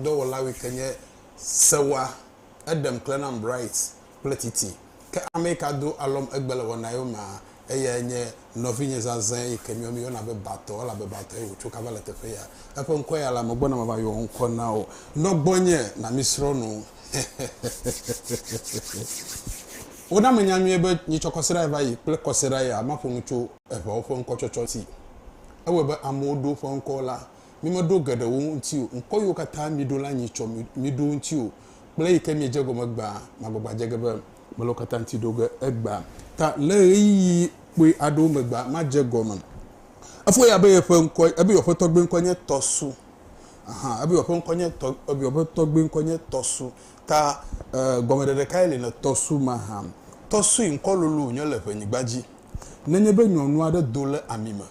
dɔwɔlawi ke nye sewa, eɖem kle nam Bright kple Titi. Ke amɛi ka do alɔm egbe le wɔnaɛwo mea, eyae nye nɔvinye zazɛ̃ yi ke miɔ mi yɔna be Batɔ, elabe Batɔe wòtso kava le teƒe ya. Eƒe ŋkɔe ya la, megbɔna mava yɔ wò ŋkɔ na wò. Nɔ gbɔnye na mi srɔ̃ nu. Hehehehehehe. Wona menya nyuie be nyi tsɔ kɔsiɖae va yi kple kɔsiɖa ya maƒo nu tso eŋewo ƒe ŋkɔtsɔtsɔ ŋti. Ewɔe be amewo ɖo woƒe ŋkɔwo la Mi meɖo geɖe wo ŋuti o, ŋkɔ yiwo katã miɖo la nyi tsɔ miɖo ŋuti o, kple eyi ke miedze egɔme gbaa, magbagba dze ge be mele wo katã ŋuti ɖo ge egbea ta le ɣeyiɣi kpui aɖewo megbea, madze egɔme. Efɔ ya be yeƒe ŋkɔ, ebe yeɔƒetɔ gbee ŋkɔ nye Tɔsu. Aha, ebe yeɔƒe ŋkɔ nye tɔ, ebe yeɔƒe tɔ gbee ŋkɔ nye Tɔsu. Ta, e, gɔmeɖeɖe kae li na Tɔsu mahã? Tɔsui ŋkɔ lolo wònye le ƒenyigba dzi. Nenye be nyɔnu aɖe do le ami me.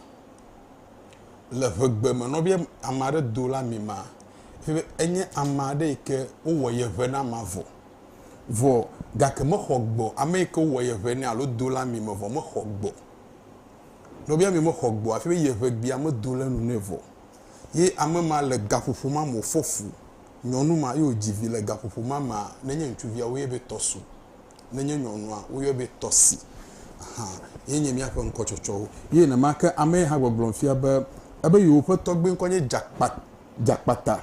le ŋegbe me nɔvia ame aɖe do la mi ma fia be enye ame aɖe yi ke wowɔ ye ŋe na ma vɔ. Vɔ gake mexɔ gbɔ o. Ame yi ke wowɔ ye ŋe nɛ alo do la mi me vɔ mexɔ gbɔ o. Nɔvia mi mexɔ gbɔ o hafi be ye ŋegbea medo le nu nɛ vɔ o. Ye ame ma le gaƒoƒo ma me wofɔ fu. Nyɔnu ma ye wodzi vi le gaƒoƒo ma mea nenye ŋutsuviawo ye be tɔsu. Ne nye nyɔnua, woyɔe be Tɔsi. Aha, ye nye míaƒe ŋkɔtsɔtsɔwo. Ye nenema ke ame ye hã gbɔgblɔm fia be ebe yewoƒe tɔgbui ŋkɔ nye Dzakpa, Dzakpata.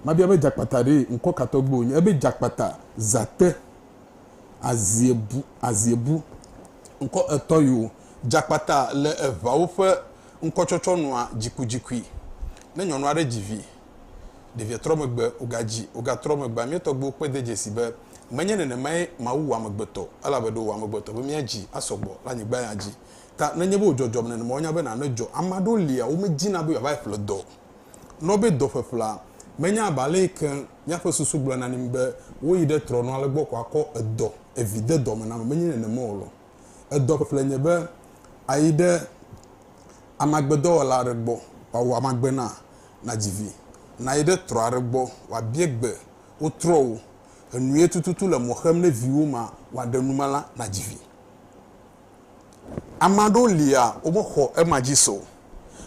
Mabia be Dzakpata ɖe ŋkɔ ka tɔgbui wònye? Ebe Dzakpata, Zate, Aziebu, Aziebu. Ŋkɔ etɔ̃ yewo. Dzakpata le eŋawo ƒe ŋkɔtsɔtsɔ nua dzikudzikui ne nyɔnu aɖe dzi vi. Ɖevia trɔ megbe, wògadzi, wògatrɔ megbea, mía tɔgbuiwo kpɔe de dzesi be menye nenemae Mawu wɔ amegbetɔ o, elabe ɖe wòwɔ amegbetɔ be míadzi asɔ gbɔ le anyigba ya dzi. Ta nenye be wòdzɔdzɔm nenema wonya be nane dzɔ. Ame aɖewo lia, womedzina be yewoava ƒle dɔ o. Nɔ be dɔ ƒeƒlea, menya abe ale yi ke míaƒe susu gblɔna na mí be woyi ɖe trɔnɔ ale gbɔ ko akɔ edɔ, evi de dɔ me na ame, menye nenema o lɔ. Edɔ ƒle nye be ayi ɖe amagbedɔwɔla aɖe gbɔ wòawɔ amagbe na nàdzi vi, nàyi ɖe trɔ aɖe gbɔ wòabie gbe wo trɔwo, enue tututu le mɔ xem ne viwò ma wòaɖe nu ma la nàdzi vi. Ame aɖewo lia womexɔ ema dzi se o,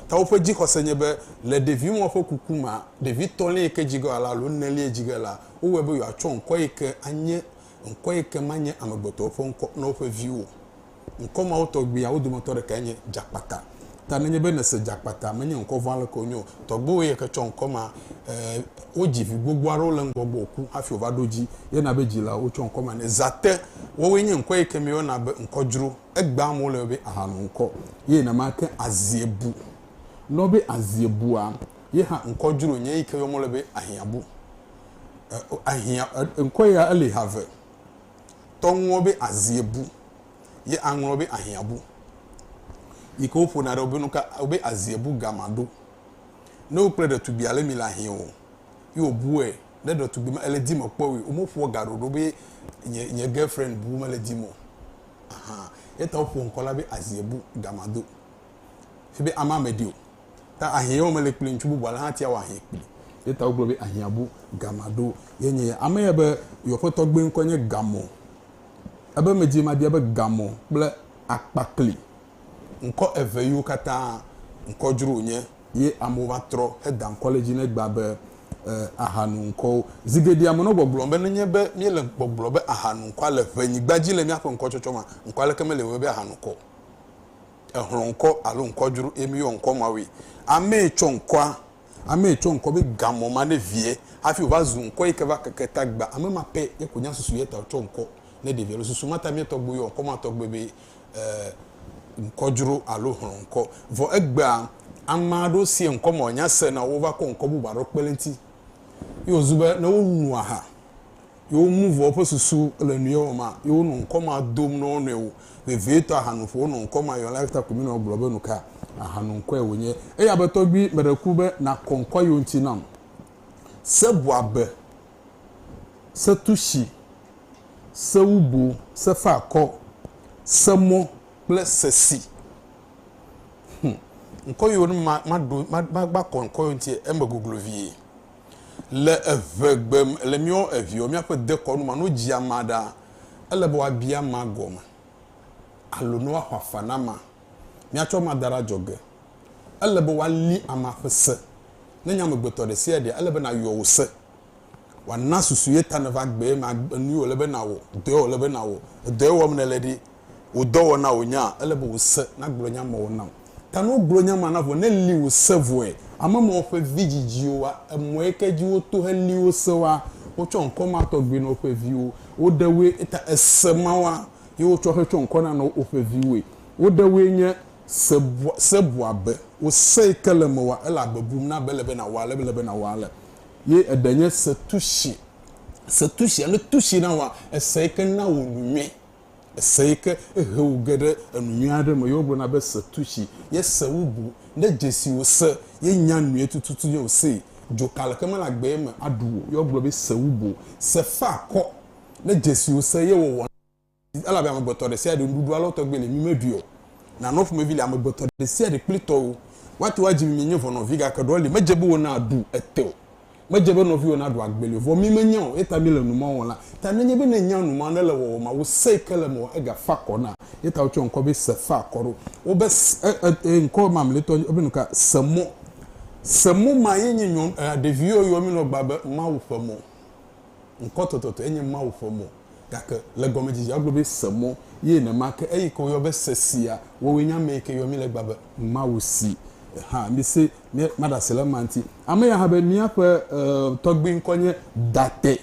ta woƒe dzixɔse nye be le ɖevimɔ ƒe kuku mea, ɖevi tɔ̃lia yi ke dzi ge alo enelia dzi ge la, wowɔe be yewoatsɔ ŋkɔ yi ke anye Ŋkɔ yi ke ma nye amegbetɔwo ƒe ŋkɔ na woƒe viwo. Ŋkɔ mawo tɔgbiawo dometɔ ɖekae nye Dzakpata. Ta nenye be nèse Dzakpata menye ŋkɔ vɔ̃ aleke wonye o, tɔgbuiwòe ye ke tsɔ ŋkɔ ma. Ɛɛ, wodzi vi gbogbo aɖewo le ŋgɔgbe wòku hafi wòva ɖo edzi ye na be dzilawo tsɔ ŋkɔ ma nɛ. Zate, woawoe nye ŋkɔ yi ke míeyɔna be ŋkɔ dzro. Egbea amewo le eme be ahanɔ ŋkɔ ye nenema ke Aziebu. Nɔ be Aziebua, ye hã ŋkɔ dzro nye yi ke yɔm wole be Ahiãbu. ahiã ŋkɔe ya eli ha ve. Tɔnuwo be aziebu ye aŋlɔ be ahiãbu yi ke woƒona ɖe wobe nuka wobe aziebu gama ɖo. Ne wo kple ɖetugbi ale mi le ahiã o ye wobue ne ɖetugbi ma ele dim kpɔ woe wome ƒoa ga ɖoɖo be nye nye girlfriend bu mele dim o ahan. Eyata woƒo ŋkɔ la be aziebu gama do. Fi be amea meɖi o. Ta ahiɛ ye wome le kpli ŋutsu bubu ale hã tia wɔ ahiɛ kpli. Ye ta wogblɔ be ahiɛ bu gama ɖo ye nye ya. Ame ya be yewoƒe tɔgbui ŋkɔe nye Gamɔ. Ebe medzi mabia be Gamɔ kple Akpakli ŋkɔ eve yiwo katã ŋkɔ dzro wonye ye amewo va trɔ heda ŋkɔ le dzi ne egbea be e ahanu ŋkɔwo. Zi geɖea menɔ gbɔgblɔm be nenye be míele gbɔgblɔ be ahanu ŋkɔa le ʋe nyigba dzi le míaƒe ŋkɔtsɔtsɔ mea, ŋkɔ aleke meli wɔe be ahanu ŋkɔ o. exlɔ ŋkɔ alo ŋkɔ dzro ye mi yɔ ŋkɔ mawui. Ame yi tsɔ ŋkɔa, ame yi tsɔ ŋkɔ be gamɔ ma ne vie hafi wo va zu ŋkɔ yi ke va keke tagba. Ame ma pɛ ye ko nya susu yi ta wo tsɔ ŋkɔ ne ɖevia lo. Susu ma ta mi tɔgbe yɔ ŋkɔ ma tɔgbe be ŋkɔ dzro alo hlɔ ŋkɔ. Vɔ egbea ame aɖewo sie ŋkɔ ma wo nya se na wo va kɔ ŋkɔ bubu aɖewo kpe le ŋti. Ye wo zu be ne wo nu aha Yewo nu vɔ̃ ƒe susu le nu ye wɔ ma, ye wonɔ ŋkɔ ma dom na wo nɔewo. Vevietɔ ahanoƒo wonɔ ŋkɔ ma yɔ la eya ta ko míenɔ egblɔ be nuka ahano ŋkɔe wònye. Eya be tɔgbui meɖe ku be nàkɔ ŋkɔ yewo ŋuti nam. Se bu abe, se tushi, se wubu, se fa akɔ, se mɔ kple se si. Hm, ŋkɔ yewo ne ma, ma ɖo, ma, ma, ma kɔ ŋkɔ yewo ŋuti eme goglo vie. Le eve gbe me, le míɔ eviɔ míaƒe dekɔnu ma, no dzi ama ɖa, ele be woabi ama gɔme alo ne woaxɔ afa na ama. Míatsɔ ama da ɖe adzɔge. Ele be woali ama ƒe se. Ne nye amegbetɔ ɖe sia ɖea, ele be nàyɔ wò se. Wòana susu ye ta nèva gbee ma, enu ye wòle be nàwɔ, dɔ ye wòle be nàwɔ. Edɔ ye wɔm nèle ɖi, wò dɔwɔna wò nya, ele be wò se nagblɔ nya ma wò nam. Ta ne wogblɔ nya ma na vɔ, ne li wò se vɔe, ame ma woƒe vi dzidziwo wa emɔe ke dzi woto he li wo se wa, wotsɔ ŋkɔ ma tɔgbi na woƒe viwo. Woɖe woe eta ese ma wa ye wotsɔ he tsɔ ŋkɔ na na woƒe viwoe. Woɖe woe nye se bua, se bua be wò se yi ke le eme wa ele agbe bum na be ele be na wa ale be ele be na wa ale. Ye eɖe nye se tushi, se tushi alo tushi na wa ese yi ke na wò nu nyuie. Ese yi ke he wò ge ɖe enu nyui aɖe me ye wogblɔ na be se tu tsi ye se wu bu. Ne dzesi wò se ye nya nyuie tututu ye wò see. Dzoka leke mele agbee me aɖu wò ye wogblɔ be se wu bu. Se fe akɔ ne dzesi wò se ye wɔwɔ na asi elabe amegbetɔ ɖesiaɖe nuɖuɖu alo tɔgbe le mi meɖui o. Nanɔ ƒomevi le amegbetɔ ɖesiaɖe kple tɔwo. Woate ŋu adzi mi mienye vɔnɔvi gake ɖewo li medze be wona ɖu ete o. Medze be nɔviwò naɖu agbeli o, vɔ mí menya o, eyata míle nu ma wɔm la ta. Nenye be nènya nu ma nèle wɔwɔ ma, wò se yi ke le mewɔ ega fa akɔ na. Eyata wotsɔ ŋkɔ be se fa akɔ ɖo wo be se, e, e, e, ŋkɔ mamletɔ nye be nuka? Se mɔ. Se mɔ ma ye nye nyɔnu, e, ɖeviwo yɔa mí nɔ gbea be Mawu ƒe mɔ. Ŋkɔtɔtɔtɔe nye Mawu ƒe mɔ. Gake le gɔmedzedzea egblɔ be se mɔ ye nenema ke eyi ke woyɔ be se sia wowoe nye ame yi ke yɔ mi legba be Mawu si hã mi se mi ma ɖase le ema ŋti. Ame ya hã be mia ƒe e tɔgbi ŋkɔ nye Date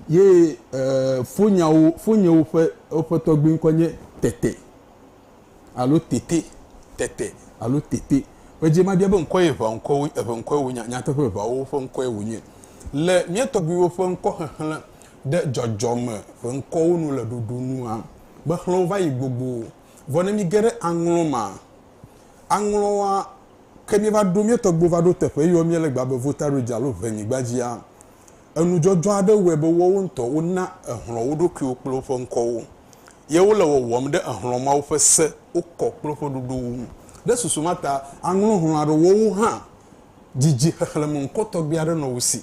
ye e fonyawo fonyewo ƒe woƒe tɔgbi ŋkɔ nye Tete. alo tete, tete alo tete. Ƒe dzie mabia be ŋkɔe eʋea ŋkɔ wo eʋe ŋkɔe wonye, nyateƒe eʋeawo ƒe ŋkɔe wonye. Le mía tɔgbuiwo ƒe ŋkɔxexlẽ ɖe dzɔdzɔme ƒe ŋkɔwo nu le ɖoɖo nua, mexlɔ̃wo va yi gbogbo. Vɔ ne míge ɖe aŋlɔ mea, aŋlɔa ke míeva ɖo, mía tɔgbuiwo va ɖo teƒe eye wɔ mía le gbea be Votary dzi alo Ʋenyigba dzia, Enudzɔdzɔ aɖe wɔe be woawo ŋutɔ wona ehlɔ̃ wo ɖokuiwo kple woƒe ŋkɔwo, ye wole wɔwɔm ɖe ehlɔ̃ mawo ƒe se, wokɔ kple woƒe ɖoɖowo ŋu. Ɖe susu ma ta aŋlɔ hlɔ̃ aɖe woawo hã didi xexlẽme ŋkɔ tɔgbi aɖe nɔ wo si.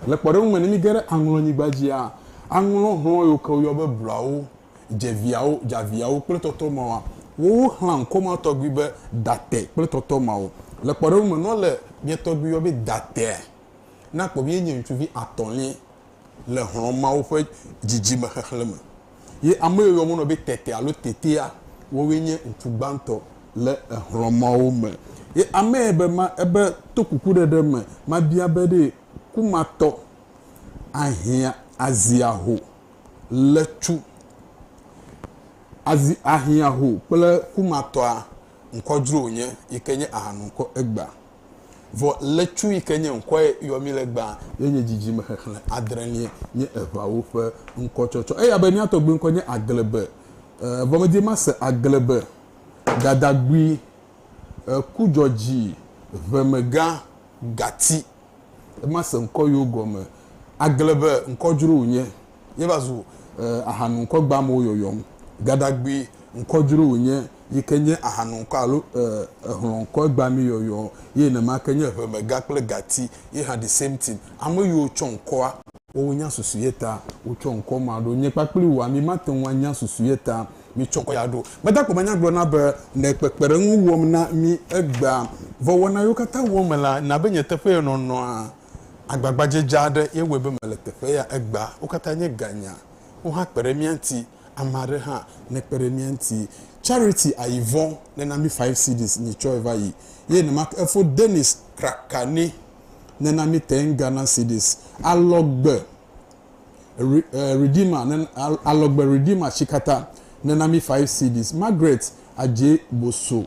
Le kpɔɖeŋu me, ne míge ɖe aŋlɔnyigba dzia, aŋlɔ hlɔ̃ yiwo ke woyɔ be bluawo, dzeviawo, dzaviawo kple tɔtɔmawoa, woawo xlẽa ŋkɔ ma tɔgbi be date kple tɔtɔmawo. Le kpɔɖeŋu me, ne wole mia tɔgbi yɔ be datea, Na kpɔ be ye nye ŋutsuvi atɔ̃liae le hlɔ̃ mawo ƒe dzidzime xexlẽ me, ye ame yiwo woyɔna be tete alo tetea, wowoe nye ŋutsu gbãtɔ le hlɔ̃ mawo me. Ye amee be ma ebe to kukuɖeɖe me mabia be ɖe kumatɔ ahiã azia ho le tsu azi ahiã ho kple kumatɔa ŋkɔ dzro wònye yi ke nye ahanu ŋkɔ egbea. Vɔ lɛtsu yi ke nye ŋkɔ ye yɔ mí le gbaa ye nye dzidzime xexlẽ adrẽlie nye eŋawo ƒe ŋkɔtsɔtsɔ. Eya be mía tɔgbuiŋkɔ nye Aglebe. Vɔ medi mase Aglebe, Dadagui, Kudzɔdzi, Ʋemegã, Gati. Mase ŋkɔ yewo gɔme. Aglebe ŋkɔ dzro wònye. Míeva zu ahanu ŋkɔ gbamewo yɔyɔm. Gadagbe ŋkɔ dzro wònye yi ke nye ahanu ŋkɔ alo ehlɔ̃ ŋkɔ gbamee yɔyɔ ye nenema ke nye ʋemega kple gati ye hã the same thing. Ame yiwo tsɔ ŋkɔa. Woawo nya susu ye ta wotsɔ ŋkɔ ma ɖo. Nye kpakple wòa mi mate ŋu anya susu ye ta míetsɔ ŋkɔ ya ɖo. Meda kpɔ be nya gblɔna be le kpekpeɖeŋu wɔm na mí egbea vɔ wɔna yiwo katã wɔm me la na be nye teƒee nɔnɔa agbagbadzedze aɖe ye wɔe be mele teƒe ya egbea. Wo katã nye ganya. Wohã kpe ɖe mía ŋuti. Ame aɖe hã ne kpe ɖe mía ŋuti. Charity ayi vɔ ne na mí five cedis, nye tsɔe va yi. Ye nenema ke efo Dennis traka ni ne na mí ten Ghana cedis. Alɔgbe Redeemer ne, alɔgbe Redeemer tsi katã ne na mí five cedis. Margaret Adjei Bosso.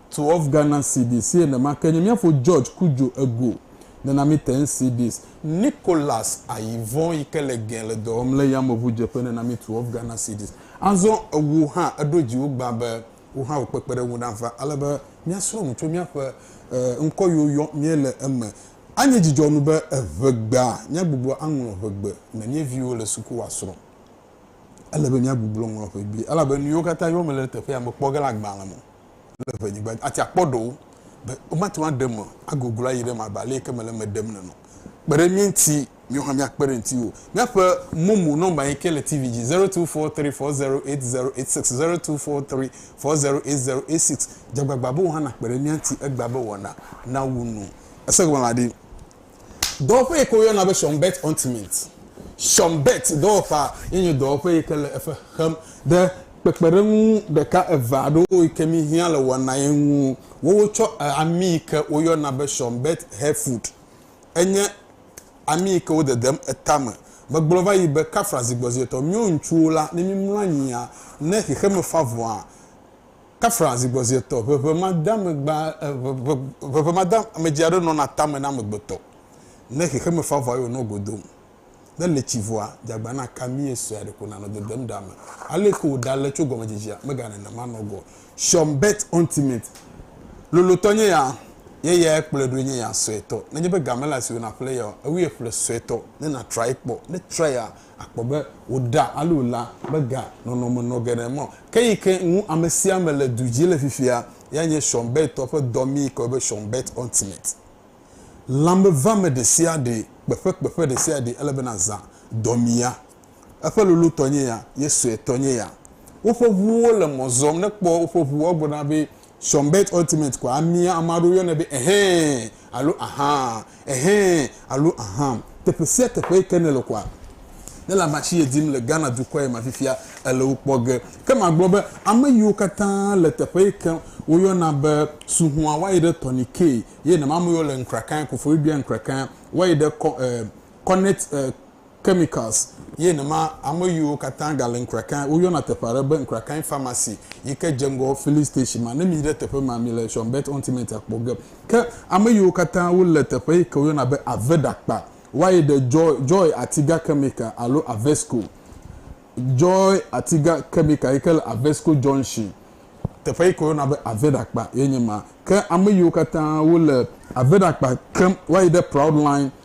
To of Ghana cedis si enema ke nye míafo George Kudjo Ego, nenami ten cedis. Nicholas Ayivon yi ke le Gen le dɔ wɔm le yameŋudzeƒe nenami to of Ghana cedis. Azɔ ewò hã èɖo dziwò gbã be wò hã wò kpekpeɖeŋu nava ale be míasrɔ̃ nu tso míaƒe ŋkɔ yiwo yɔm míele eme. Anye dzidzɔnu be eŋe gbea míagbugbɔ aŋlɔ ŋegbe ne míeviwo le suku woasrɔ̃. Ele be míagbugblo ŋlɔ ŋegbe elabe nu yiwo katã yɔm mele ɖe teƒe ya mekpɔ ge le agbalẽ me o. le ŋe nyigba dzi. Ati akpɔ ɖewo be womate ŋu aɖem o, agoglo ayi ɖe eme abe ale yi ke mele eme ɖem nene o. Kpe ɖe mía ŋuti, míawo hã míakpe ɖe ŋutiwò. Míaƒe momo nɔmba yi ke le TV dzi, zero two four three four zero eight zero eight six, zero two four three four zero eight zero eight six. Dze agbagba be wò hã nàkpe ɖe mía ŋuti egbea be wɔna nawu nu. Ese gɔme la ɖe? Dɔwɔƒe yi ke woyɔna be Schönberg Untermiet, Schönberg dɔwɔƒea, ye nye dɔwɔƒe yi ke le eƒe xem ɖe kpekpeɖeŋu ɖeka eve aɖewo yi ke mi hiã le wɔna ye ŋu. Wowo tsɔ ami yi ke woyɔna be Schönberg Hellfut. Enye ami yi ke wo dedem eta me. Megblɔ va yi be, Kafra zigbɔzietɔ, míwo ŋutsuwo la, ne mímlɔ anyia, ne xexeme fa vɔa, Kafra zigbɔzietɔ, ʋeʋẽmadeamegba, ʋeʋẽmadeamedzi aɖe nɔna tame na amegbetɔ ne xexeme fa vɔ eye wònɔ go dom. Ne letsi vɔa, dzagbã na ka mie sɔea ɖeko nanɔ dedem ɖa me. Aleke wòɖa le tso gɔmedzidzia? Mega nenema nɔ go o. Sean Bert Huntimate, lolotɔ nye ya, ye yae kplɔe ɖoe nye ya suetɔ. Nenye be ga mele asiwò naƒle eya o, ewuie ƒle suetɔ ne nàtrae kpɔ. Ne traea, Akpɔ be wòɖa alo la mega nɔnɔme nɔ geɖe mɔ. Ke yi ke ŋu ame sia ame le du dzi le fifia ya nye Sean Byrd tɔ ƒe dɔ mi kɔe be Sean Byrd Ultimate. Lãmevame ɖe sia ɖe, kpeƒe kpeƒe ɖe sia ɖe ele be nazã dɔ mi ya. Eƒe lolo tɔ nye ya ye sue tɔ nye ya. Woƒe ŋuwo le mɔ zɔm ne kpɔ woƒe ŋu woagblɔ na be Sɔnbet Ultimate koa amia ame aɖewo yɔnɛ be Ɛhɛɛ alo Ahaa, Ɛhɛɛ alo Ahaa. Teƒe sia teƒe yi ke nèle koa, ne lãmasi ye dim le Ghana dukɔ ye ma fifia, èle wo kpɔ ge. Ke magblɔ be ame yiwo katã le teƒe yi ke woyɔna be Suhua wayi ɖe Tɔni Kee ye nemameyiwo le Nkrakae, Koforidua Nkrakae, wayi ɖe kɔ, eh, Kɔnɛt, eh, Chemicals, ye nema ame yiwo katã gale Nkrakae, woyɔna teƒe aɖe be Nkrakae Pharmacy yi ke dze ŋgɔ Filling Station ma. Ne miyi ɖe teƒe ma, mile Shonbet Ontiment akpɔ ge. Ke ame yiwo katã wole teƒe yi ke woyɔna be Aveda kpa woayi ɖe Joy, Joy Atiga Chemical alo Avesco, Joy Atiga Chemical yi ke le Avesco Junction. Teƒe yi ke woyɔna be Aveda kpa ye nye ma. Ke ame yiwo katã wole Aveda kpa kem woayi ɖe Proudline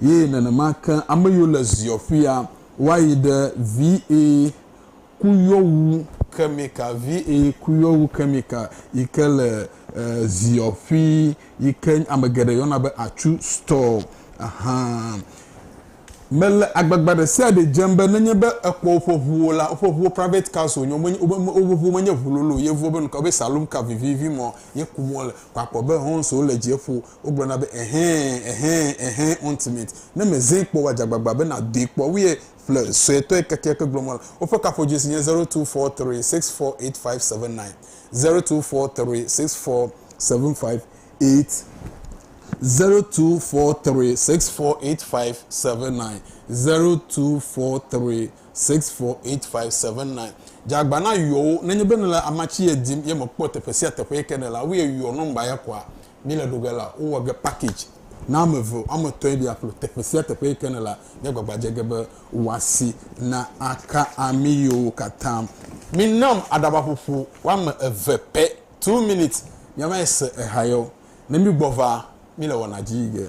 Ye nenema ke ame yiwo le ziɔ ƒia woayi ɖe VA kuyɔwu kemika, VA kuyɔwu kemika yi ke le ziɔ ƒi yi ke ame geɖe yɔna be atsu store hã. Mele agbagba ɖe sia ɖe dzem be nenye be ekpɔ woƒe ʋuwo la, woƒe ʋuwo private cars wonye, womenye, woƒe ʋuwo menye ʋu lolo o. Yevuwo be nuka? Wobe saloon car vivivi ma ye kum wole. Kɔ akpɔ be Honz wole dzie ƒo Wogblɔna be, Ɛhɛ̃, ɛhɛ̃, ɛhɛ̃, Untimate. Ne mezee kpɔ woa, dze agbagba be nàdoe kpɔ. Woyɛ ƒle suetɔe kekeake gblɔ mɔ le. Woƒe kaƒodzesi nye zero two four three six four eight five seven nine, zero two four three six four seven five eight, zero two four three six four eight five seven nine, zero two four three six four eight five seven nine. Dze agba na yɔwo. Nenye be nèle amatsi ye dim ye mèkpɔ teƒe sia teƒe yi ke nèle la, woyɛ yɔ nɔmba ya kɔa. Mi le ɖo ge la, wo wɔ ge package na ame eve alo ame etɔ̃ yi be ya kplɔ teƒe sia teƒe yi ke ne la, mia gbagba dze ge be wòa si na aka ami yewo katã. Mi nam aɖaba ƒoƒo woame eve pɛ, two minutes, mia va yi se eha yewo. Ne mi gbɔ va, mi le wɔna dzi yi ge.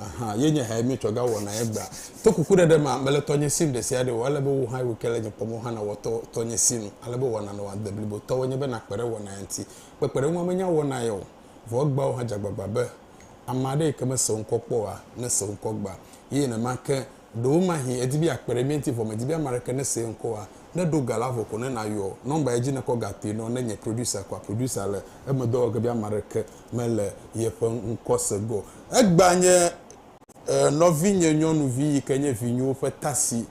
Ahan, ye nye hae míetsɔ ga wɔna ye gbea. To kukuɖeɖe mea, mele tɔnye sim ɖesiaɖe o, ele be wò hã wòke le nye kpɔmɔ hã nàwɔ tɔ tɔnye sinu. Ale be wɔna nɔa agbe blibo tɔwòe nye be nàkpe ɖe wɔna ya ŋuti. Kpekpeɖeŋua menya wɔna ye o, vɔ egbea wò hã dze agbagba be ame aɖe yi ke mese wo ŋkɔ kpɔ oa, nese wo ŋkɔ gbea. Ye nenema ke Ɖewomahi èdi be yeakpe ɖe mía ŋuti vɔ mèdi be ame aɖeke nesee ŋkɔ oa? Ne èɖo ga la vɔ ko ne nàyɔ nɔmba ye dzi nèkɔ ga toe nɔ ne nye producer koa, producer le emedɔ wɔ ge be ame aɖeke mele yeƒe ŋkɔse ge o. Egbea nye nɔvinye nyɔnuvi yi ke nye vinyuwo ƒe tasi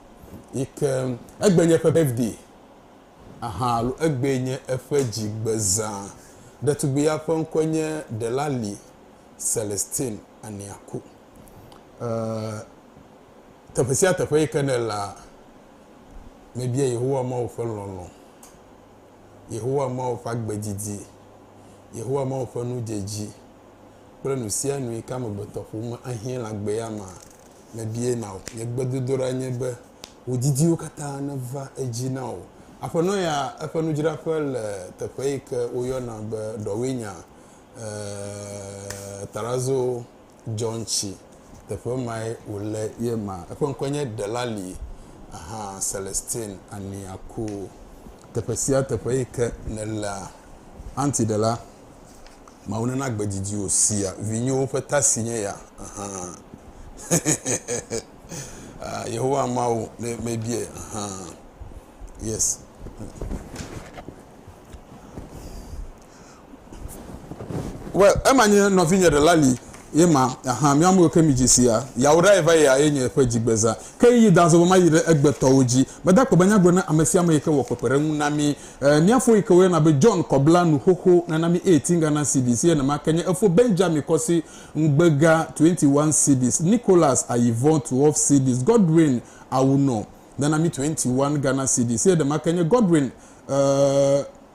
yi ke egbee nye eƒe birthday ahan alo egbee nye eƒe dzigbezã. Ɖetugbui ya ƒe ŋkɔe nye Delali Celestine Aniaku. Ee, teƒe sia teƒe yi ke nèlea, mebia Yehowa Mawu ƒe lɔlɔ̃, Yehowa Mawu ƒe agbe didi, Yehowa Mawu ƒe nudzedzi kple nu sia nu yi ke amegbetɔƒome ahiã le agbea mea, mebiae na wò. Nye gbedodoɖa nye be wò didiwo katã neva edzi na wò. Aƒenɔ ya, eƒe nudzraƒe le teƒe yi ke woyɔna be Ɖɔwinyaa, ee, Tarazo. John tsi teƒe mae wòle ye ma. Eƒe ŋkɔe nye Delali ahan Celestine Aniaku. Teƒe sia teƒe yi ke nèlea, aunty ɖela, Mawu nana gbe didi wò sia vinyewo ƒe ta si nye ya ahan. Ah, Yehowa Mawu ne mebie ahan. Yes. Well, ema nye nɔvinye ɖe la li ye ma ahan mi amewo ke mi dzi si ya ya wo ɖa ye va ye ya ye nye ƒe dzi gbeza ke yi da zɔbɔ ma yi ɖe egbe tɔwo dzi me da kpɔ be nya gblɔ na ame sia ame yi ke wɔ kpekpe ɖe ŋu na mi eh, mia fo yi ke wo yɔna be John kɔ bla nu xoxo nana mi eye tinga na cedis ye nema ke nye efo Benjamin kɔ si ŋgbega 21 cedis Nicholas ayi vɔ 12 cedis Godwin awu nɔ nana mi 21 Ghana cedis ye ɖema ke nye Godwin eh,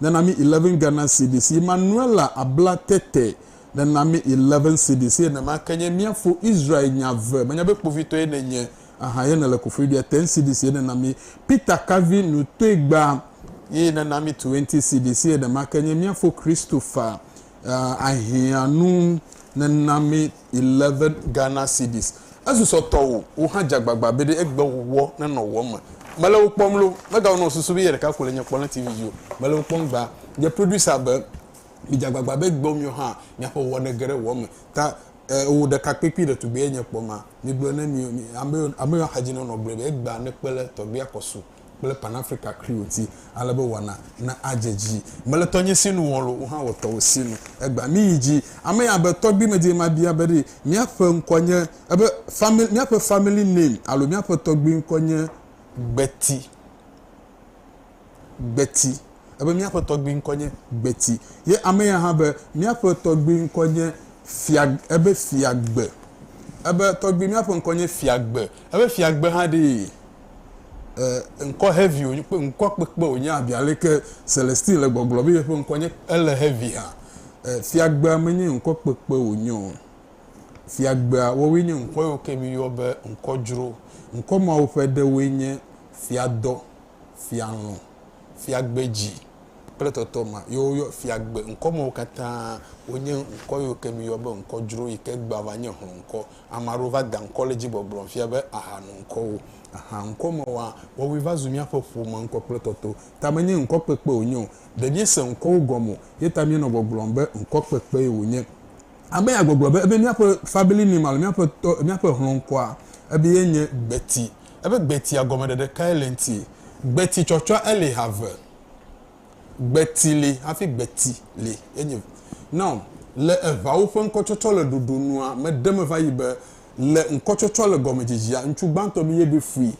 Nena mi eleven Ghana cedis yi Manuela abla tete nena mi eleven cedis ye nema ke nye mia fo Israel nya ve menya be kpovitɔ ye ne nye ahan ye ne le kofoi bia ten cedis ye nena mi Peter kavi nu toe gba yi nena mi twenty cedis ye nema ke nye mia fo Christopher ahiã nu nena mi. 11 Ghana cedis. Ezu sɔ tɔwò, wò hã dze agbagba be ɖe egbe wòwɔ nenɔ wò eme. Mele wò kpɔm loo. Megawɔ nɔ susu be ye ɖeka ko le nye kpɔm le TV dzi o. Mele wò kpɔm gbã. Nye producer be, Midze agbagba be egbe miwo hã miaƒe wòwɔ nege ɖe wò eme. Ta e, wò ɖekakpui kpui ɖetugbui ye nye kpɔ ma. Migblɔ ne mi, mi, ame, ame yiwo axadzi nɔ nɔ gblɔe be egbea nekpe le tɔgbia kɔ su. kple Pan-Afrika Creole ti, ale be wɔna na adze dzi. Mele tɔnye si nu wɔm lo, wò hã wɔ tɔwò si nu. Egbea míyi dzi. Ame ya be, Tɔgbui Medie mabia be ɖe míaƒe ŋkɔ nye, ebe family, míaƒe family name alo míaƒe tɔgbui ŋkɔ nye Gbeti. Gbeti. Ebe míaƒe tɔgbui ŋkɔ nye Gbeti. Ye ame ya hã be, Míaƒe tɔgbui ŋkɔ nye Fia, ebe Fiagbe. Ebe, Tɔgbui, míaƒe ŋkɔ nye Fiagbe. Ebe, Fiagbe hã ɖee? E, ŋkɔ heavy wònye, kpe ŋkɔ kpekpe wònye abi aleke Celestine le gbɔgblɔ be yeƒe ŋkɔ nye, ele heavy hã. E, fiagbea menye ŋkɔ kpekpe wònye o. Fiagbea, woawoe nye ŋkɔ yiwo ke míyɔ be ŋkɔ dzro. Ŋkɔ mawo ƒe ɖewoe nye Fiadɔ, Fialɔ̃, Fiagbedzi kple tɔtɔ ma. Ye woyɔ Fiagbe. Ŋkɔ mawo katã wonye ŋkɔ yiwo ke míyɔ be ŋkɔ dzro yi ke gbava nye hlɔ̃ ŋkɔ Ame aɖewo va da ŋkɔ ɖe edzi gbɔgblɔ fia be aha nu ŋkɔ wo. Aha ŋkɔ me woa, woawoe va zu míaƒe ƒome ŋkɔ kple tɔto. Ta menye ŋkɔ kpekpe wonye o. Ɖe míese ŋkɔwo gɔme o, ye ta míenɔ gbɔgblɔm be ŋkɔ kpekpee wonye. Abe ya gbɔgblɔ be ebe míaƒe family name alo míaƒe tɔ, míaƒe hlɔ̃ŋkɔa ebe ye nye Gbeti. Ebe Gbetia gɔmeɖeɖe kae le eŋti? Gbeti tsɔtsɔa eli ha eve. Gbeti li hafi gbeti li. Enye. Now, le eŋawo ƒe ŋkɔtsɔtsɔ le ɖoɖo nua, meɖe me va yi be, le ŋkɔtsɔtsɔ le gɔmedzedzea, ŋutsu gbãtɔ mi ye ɖoe fui,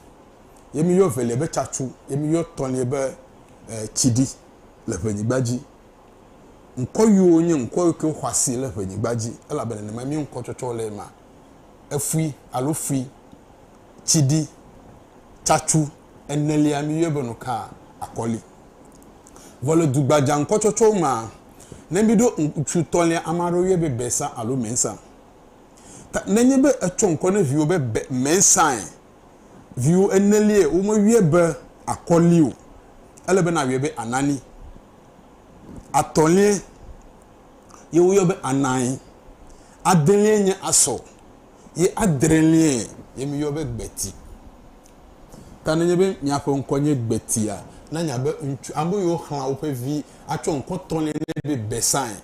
ye mi yɔ evelia be tsatsu, ye mi yɔ etɔ̃lia be e, tsiɖi le ʋenyigba dzi. Ŋkɔ yiwo nye ŋkɔ yiwo ke xɔ asi le ʋenyigba dzi, elabe nenemae mía ŋkɔtsɔtsɔ le ema. Efui alo fui, tsiɖi, tsatsu. enelia miyɔe be nu ka? Akɔli. Vɔ le dugbadza ŋkɔtsɔtsɔwo mea, ne miɖo ŋutsu tɔ̃lia, ame aɖewo yɔe be Besa alo Mensa. Ta ne enye be etsɔ ŋkɔ ne viwò be Be, Mensae, viwò eneliae womeyɔe be Akɔli o. Ele be nàyɔe be Anani. Atɔ̃liae ye woyɔ be Anai. Adeliae nye Asɔ. ye adreliae ye mi yɔ be gbeti. Ta ne nye be miaƒe ŋkɔ nye gbetia, na nya be ŋutsu, ame yiwo xlã woƒe vi atsɔ ŋkɔ tɔ̃lia nɛ be Besae,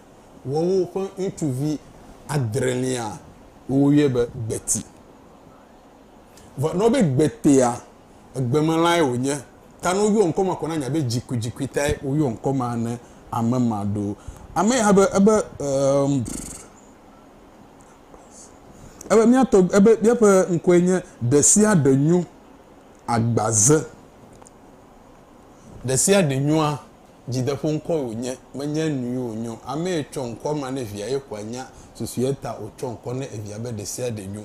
woawo ƒe ŋutsuvi adrelia wo yɔe be gbeti. Vɔ ne wo be gbetea, egbemelãe wo nye. Ta ne wo yɔ ŋkɔ ma ko na nya be dzikudzikui tae wo yɔ ŋkɔ ma ne ame ma ɖo. Ame ya be, ebe, eemm. Ebe míatɔ, ebe míaƒe ŋkɔe nye ɖesiaɖe nyo agbaze. Ɖesiaɖe nyoa, dzideƒoŋkɔe wònye, menye nui wònyɔ. Amee tsɔ ŋkɔ ma ne via ye ƒoa nya susue ta wòtsɔ ŋkɔ ne evia be ɖesiaɖe nyo.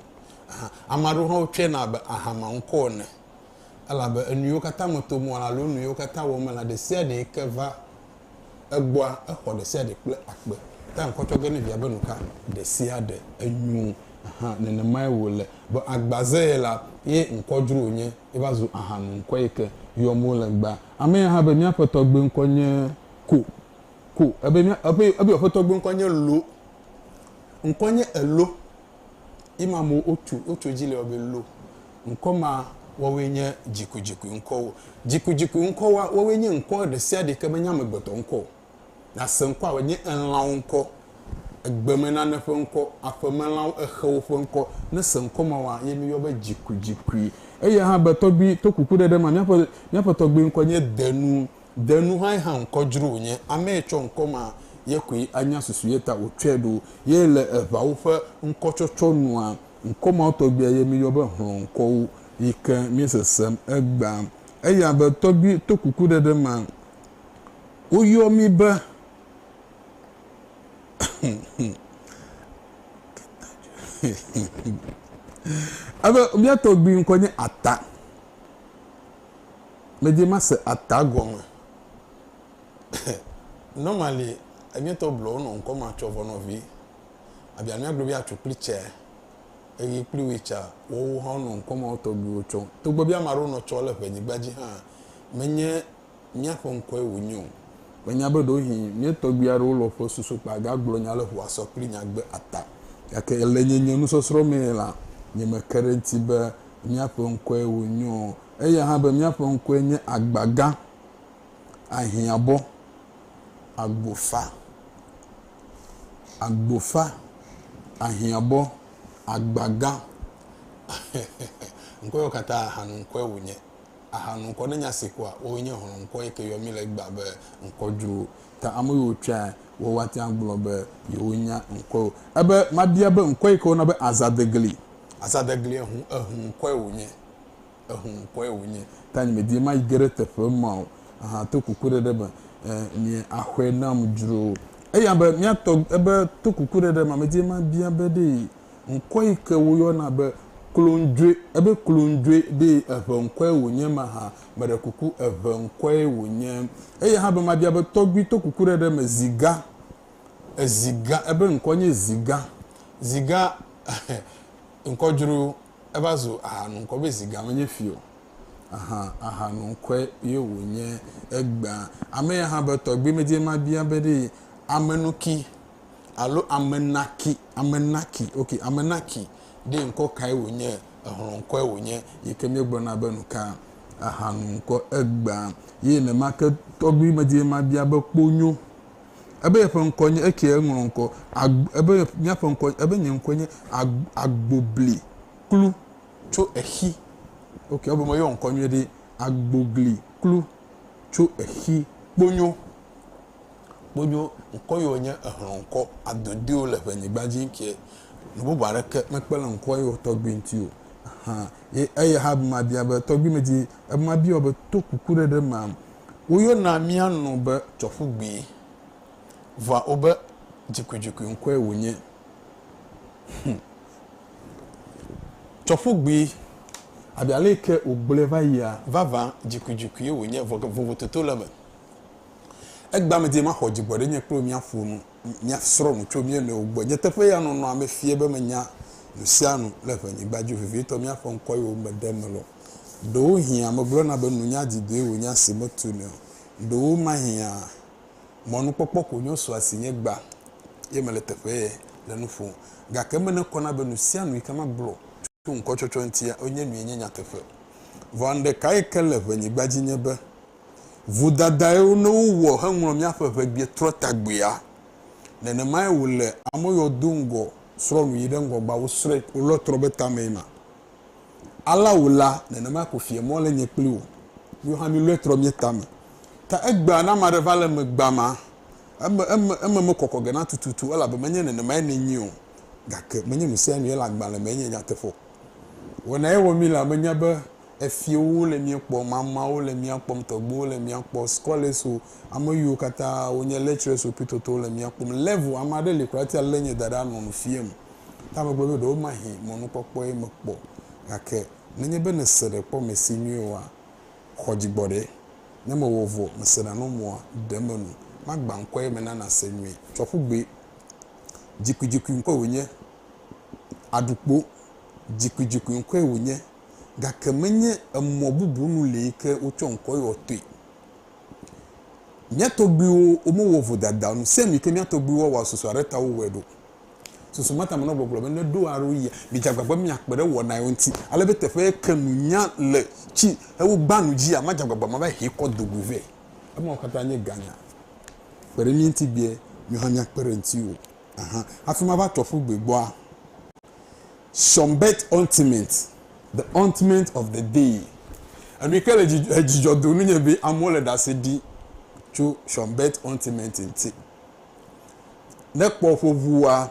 Aha, ame aɖewo hã wotsɔe na abe ahama ŋkɔ ene. Elabe enuyiwo katã me tom wɔ alo nuyiwo katã wɔm mele, ɖesiaɖee ke va Egbɔa exɔ ɖesiaɖe kple akpe. Tea ŋkɔ tsɔ ge ne via be nu ka? Ɖesiaɖe. Enyo hã. Nenemae wòle. Vɔ agba ze ye la, ye ŋkɔ dzro wònye. Eva zu ahanu ŋkɔe yi ke yɔm wole egbea. Ame ya hã be, Mía aƒetɔ gbe ŋkɔ nye Ko. Ko. Ebe mía, ebe, ebe yewo aƒetɔ gbe ŋkɔ nye Lo. Ŋkɔ nye Elo. Ima mo otu otso dzi le ɔbe lo. Ŋkɔ ma woawoe nye dzikudzikui ŋkɔwo. Dzikudzikui ŋkɔwoa woawoe nye ŋkɔ ɖesiaɖe ke menye amegbetɔ ŋkɔ o. Nase ŋkɔa wòanye elãwo ŋkɔ, egbemenane ƒe ŋkɔ, aƒemelãwo, exewo ƒe ŋkɔ. Ne se ŋkɔ mawoa ye mi yɔ be dzikudzikui. Eya hã be tɔgbui, to kuku ɖe ɖe ma, míaƒe tɔgbui ŋkɔ nye Denu. De nu hãe hã ŋkɔ dzro wònye amee tsɔ ŋkɔ ma ye koe anya susu ye ta wòtsɔe ɖo ye le eŋawo ƒe ŋkɔtsɔtsɔ nua ŋkɔ mawo tɔgbuia ye míyɔ be hlɔ̃ŋkɔwo yi ke míesesem egbea eya be tɔgbui to kukuɖeɖe ma woyɔ mí be ebe mía tɔgbui ŋkɔ nye ata. Medi mase ata gɔme. Normally enyitɔ blɔ wonɔ ŋkɔ ma tsɔ vɔ nɔvi. Abia miagblɔ be atsu kple tsɛ eye kple wui tsa woawo hã wonɔ ŋkɔ mawo tɔgbiwo tsɔ. Togbɔ be ame aɖewo nɔ tsɔ le ŋɛnyigba dzi hã, menye miaƒe ŋkɔe wonye o. Menya be ɖewohĩ mia tɔgbui aɖewo lɔ ƒe susu kpa gagblɔ nya le ŋua sɔ kple nya gbe ata. Gake le nye nye nusɔsrɔ̃ mee la, nye me ke ɖe ŋuti be míaƒe ŋkɔe wònyo o. Eya hã be míaƒe ŋkɔe nye agbagã, ahiãbɔ, agbofa, agbofa, ahiãbɔ, agbagã, ŋkɔewo katã ahanu ŋkɔe wònye. Ahanu ŋkɔ ne nya si kɔa woe nye hlɔ̃ ŋkɔ yi ke yɔ mí le egbea be ŋkɔ dzrowo. Ta ame yiwo tsɔae woawoa tea ŋu gblɔ be yewonya ŋkɔewo. Ebe mabia be ŋkɔ yi ke woyɔna be azadegli. Azadeglie ŋu eŋu ŋkɔe wònye. Eŋu ŋkɔe wònye. Ta nye medi mayi ge ɖe teƒe ma o. Aha to kukuɖeɖe me. E, nye axɔe nam dzro. Eya be, mía tɔ, ebe, to kukuɖeɖe ma, medi mabia be ɖe ŋkɔ yi ke woyɔna be Klondjoe, ebe Klondjoe, ɖe eŋe ŋkɔe wònye mahã. Meɖe kuku, eŋe ŋkɔe wònye. Eya hã be mabia be, tɔgbui, to kukuɖeɖe me, zi ga, Ezi gã, ebe ŋkɔ nye Zi gã. Zi gã ŋkɔ dzro yo. Eva zu aha nu ŋkɔ be Zi gã menye fi o. Ahan, aha nu ŋkɔe ye wònye egbea. Ame ya hã be tɔgbui medie mabia be ɖee Amenuki alo Amenaki, Amenaki, ok, Amenaki ɖee ŋkɔ kae wònye, ehlɔ̃ ŋkɔe wònye yi ke míegblɔna be nu ka aha nu ŋkɔ egbea. Ye nenema ke tɔgbui medie mabia be kponyo. Ebe yeƒe ŋkɔ nye ekie eŋlɔ ŋkɔ ag ebe míaƒe ŋkɔ ebe nye ŋkɔe nye ag agbobli klu tso exi. Ok ebe meyɔ ŋkɔ nyuie ɖi agbogli klu tso exi. Kponyo kponyo ŋkɔ yiwo nye ehlɔ ŋkɔ adodiwo le ƒe nyigba dzi ŋkie nu bubu aɖeke mekpe le ŋkɔ yiwo tɔgbi ŋuti o hã ye eye hã be mabia be tɔgbi medi ebe mabia be to kuku ɖe ɖe ma Woyɔna mía nu be tsɔƒugbee, vɔa wobe dzikuidzikui ŋkɔe wònye. Hum. Tsɔƒugbee, abe ale yi ke wògblɔe va yia, vavã dzikuidzikuie wònye, vɔ ke vovototo le eme. Egbea medi be maxɔ dzigbɔɖinye kple wò míaƒo nu. míasrɔ̃ nu tso mía nɔewo gbɔ. Nyateƒee ya, nɔnɔa mefia be menya nu sia nu le ƒe nyigba dzi, vevitɔ míaƒe ŋkɔ yiwo meɖe me lɔ. Ɖewohĩ ame gblɔna be nunya didoe wònye asi metunɛ o. Ɖewomahĩa mɔnukpɔkpɔ ko nyo sua si nye gbã ye mele teƒee le nu ƒom. Gake eme ne kɔna be nu sia nu yike magblɔ tso ŋkɔtsɔtsɔ ŋuti nye nue nye nyateƒe. Vɔa nuɖekae ke le ƒe nyigba dzi nye be Vodadae ne wowɔ heŋlɔ míaƒe ʋebiɛtrɔtagbuia. Nenemae wòle ame yɔ do ŋgɔ srɔ̃ nu yi ɖe ŋgɔgbea wosrɔ̃e ko lɔ trɔ be tamee ma. Alea wò la, nenemae ko fiae mɔ le nye kpli wò míwo hã mílɔe trɔ mía tame. Ta egbea ne ame aɖe va le eme gbã ma, eme, eme, eme mekɔkɔ ge na tututu elabe menye nenemae nènyi o, gake menye nusianue le agbalẽ mee nye nyateƒe o. Wɔnae wɔ mí la, menya be efiewo le mía kpɔ, mamawo le mía kpɔm, tɔgbuiwo le mía kpɔ, scholars o, ame yiwo katã wonye lecturers o kple totowo le mía kpɔm. Level, ame aɖe li kura hafi lé nye da ɖe anɔ nu fiam. Ta megblɔ be ɖewo mahi mɔnukpɔkpɔe mekpɔ gake nenye be nèse ɖe kpɔ mesi nyuie oa, xɔ dzi gbɔ ɖe. Ne mewɔ vɔ, mese ɖa nɔ mɔa, ɖe menu. Magbã ŋkɔ eye mena nàse nyuie. Tsɔ ƒu gbee. Dzikuidzikui ŋkɔe wònye. Aɖukpo, dzikuidzikui ŋkɔe wònye. gake menye emɔ bubu nu lee ke wotsɔ ŋkɔ yɔ toe. Mía tɔgbuiwo womewɔ vodada nu se mi ke mía tɔgbuiwo woawɔ susu aɖe ta wowɔe ɖo. Susu ma ta menɔ gbɔgblɔ be ne ɖo alo yia, midze agbagba be miakpe ɖe wɔna yewo ŋuti ale be teƒe ye ke nunya le tsi hewo gbã nu dzia, madze agbagba mava hee kɔ do goe vɛ. Emawo katã nye ganya. Kpe ɖe mía ŋuti gbea, miwo hã míakpe ɖe ŋutiwò. Ahan. Hafi mava tso aƒu gbe gbɔa. Sɔnbet Ointment, The Ointment of the Day, Enu yi ke le dzidzɔ dom nunye be amewo le ɖase ɖi tso Sɔnbet Ointment ŋuti. Ne kpɔ ƒe ŋua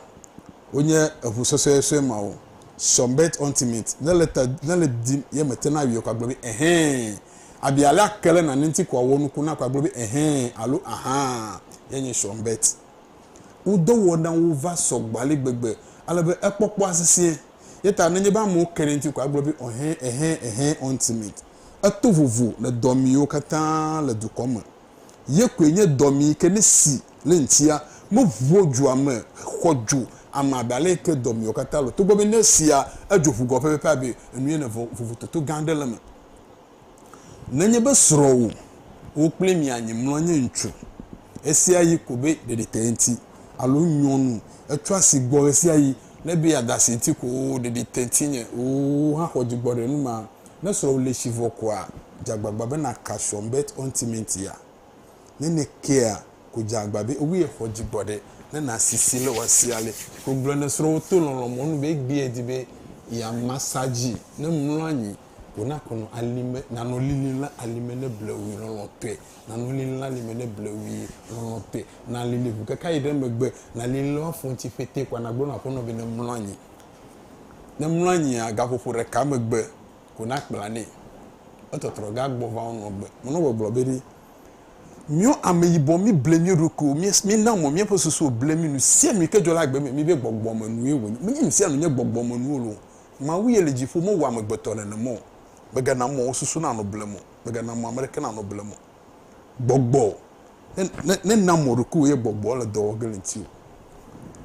wonye eŋu sɔsɔesɔe mawo, Sɔnbet Ointment, ne le ta, ne le dim ye mete na awie ko agblɔ be ɛhɛɛ, abi alea ke le nane ŋuti ko awɔ nuku na ko agblɔ be ɛhɛɛ alo ahaa ye nye Sɔnbet. wo dɔwɔnawo va sɔ gbɔ ale gbegbe ale be ekpɔkpɔa sesẽ. Eya ta nenye be amewo ke ɖe eŋuti ko agblɔ be ɔhɛ, ɛhɛ, ɛhɛ, ultimate. Eto vovo le dɔmiwo katã le dukɔ me. Ye koe nye dɔmi yi ke ne si le eŋutia, meʋuɔ dzo ame, xɔ dzo ame abe ale yi ke dɔmiwo katã le o. Togbɔ be ne esia, edzo ʋu gɔ pɛpɛpɛ abe enu ene vɔ vovototo gã aɖe le eme. Nenye be srɔ̃wò, wò kple mia nyi mlɔ nye ŋutsu ɣesiaɣi ko be ɖeɖite ŋuti, alo nyɔnu etsɔ asi gbɔ ɣesiaɣi le be yeada asi ŋuti ko wò ɖeɖite ŋuti nye wò hã xɔ dzigbɔɖenu ma. Ne srɔ̃wò le tsi vɔ koa, dze agbagba be nàka srɔ̃ Beth Ontimentia. Ne nèkea, ko dze agbagba be wòe xɔ dzigbɔɖe ne nàsi si le wòa sia le. Ko gblɔ ne srɔ̃wò to lɔlɔ̃ mɔnu be egbee di be yeama sa dzi ne mlɔ anyi. Wòna kɔnɔ alime, nanɔ lilim le alime ne blewui lɔlɔ̃tɔe, nanɔ lilim le alime ne blewui lɔlɔ̃tɔe. Nàlili ʋu keke ayi ɖe megbe, nàlili le woafɔ ŋuti fetee kɔa, nàgblɔ na aƒenɔ be nemlɔ anyi. Ne emlɔ anyia, gaƒoƒo ɖeka megbe ko nakpla nɛ. Etɔtrɔ ge agbɔ va wonɔ gbe. Menɔgbe gblɔ be ɖi, Míɔ ameyibɔ, míble mía ɖokuiwo, mína mɔ míaƒe susuwo ble mí, nusianui ke dzɔ le agbe me, míbe gbɔgbɔmenuwoe wònye. Menye nusianu nye gbɔgbɔmenuwo loo. Mawu ye le dziƒo mewɔa amegbetɔ nenem o, megana mɔ wo susu nanɔ blem o, megana mɔ ame ɖeke nanɔ blem o. Gbɔgbɔ, ne, ne, nèna mɔ ɖokuiwò ye gbɔgbɔ le dɔ wɔ ge le ŋutiwò.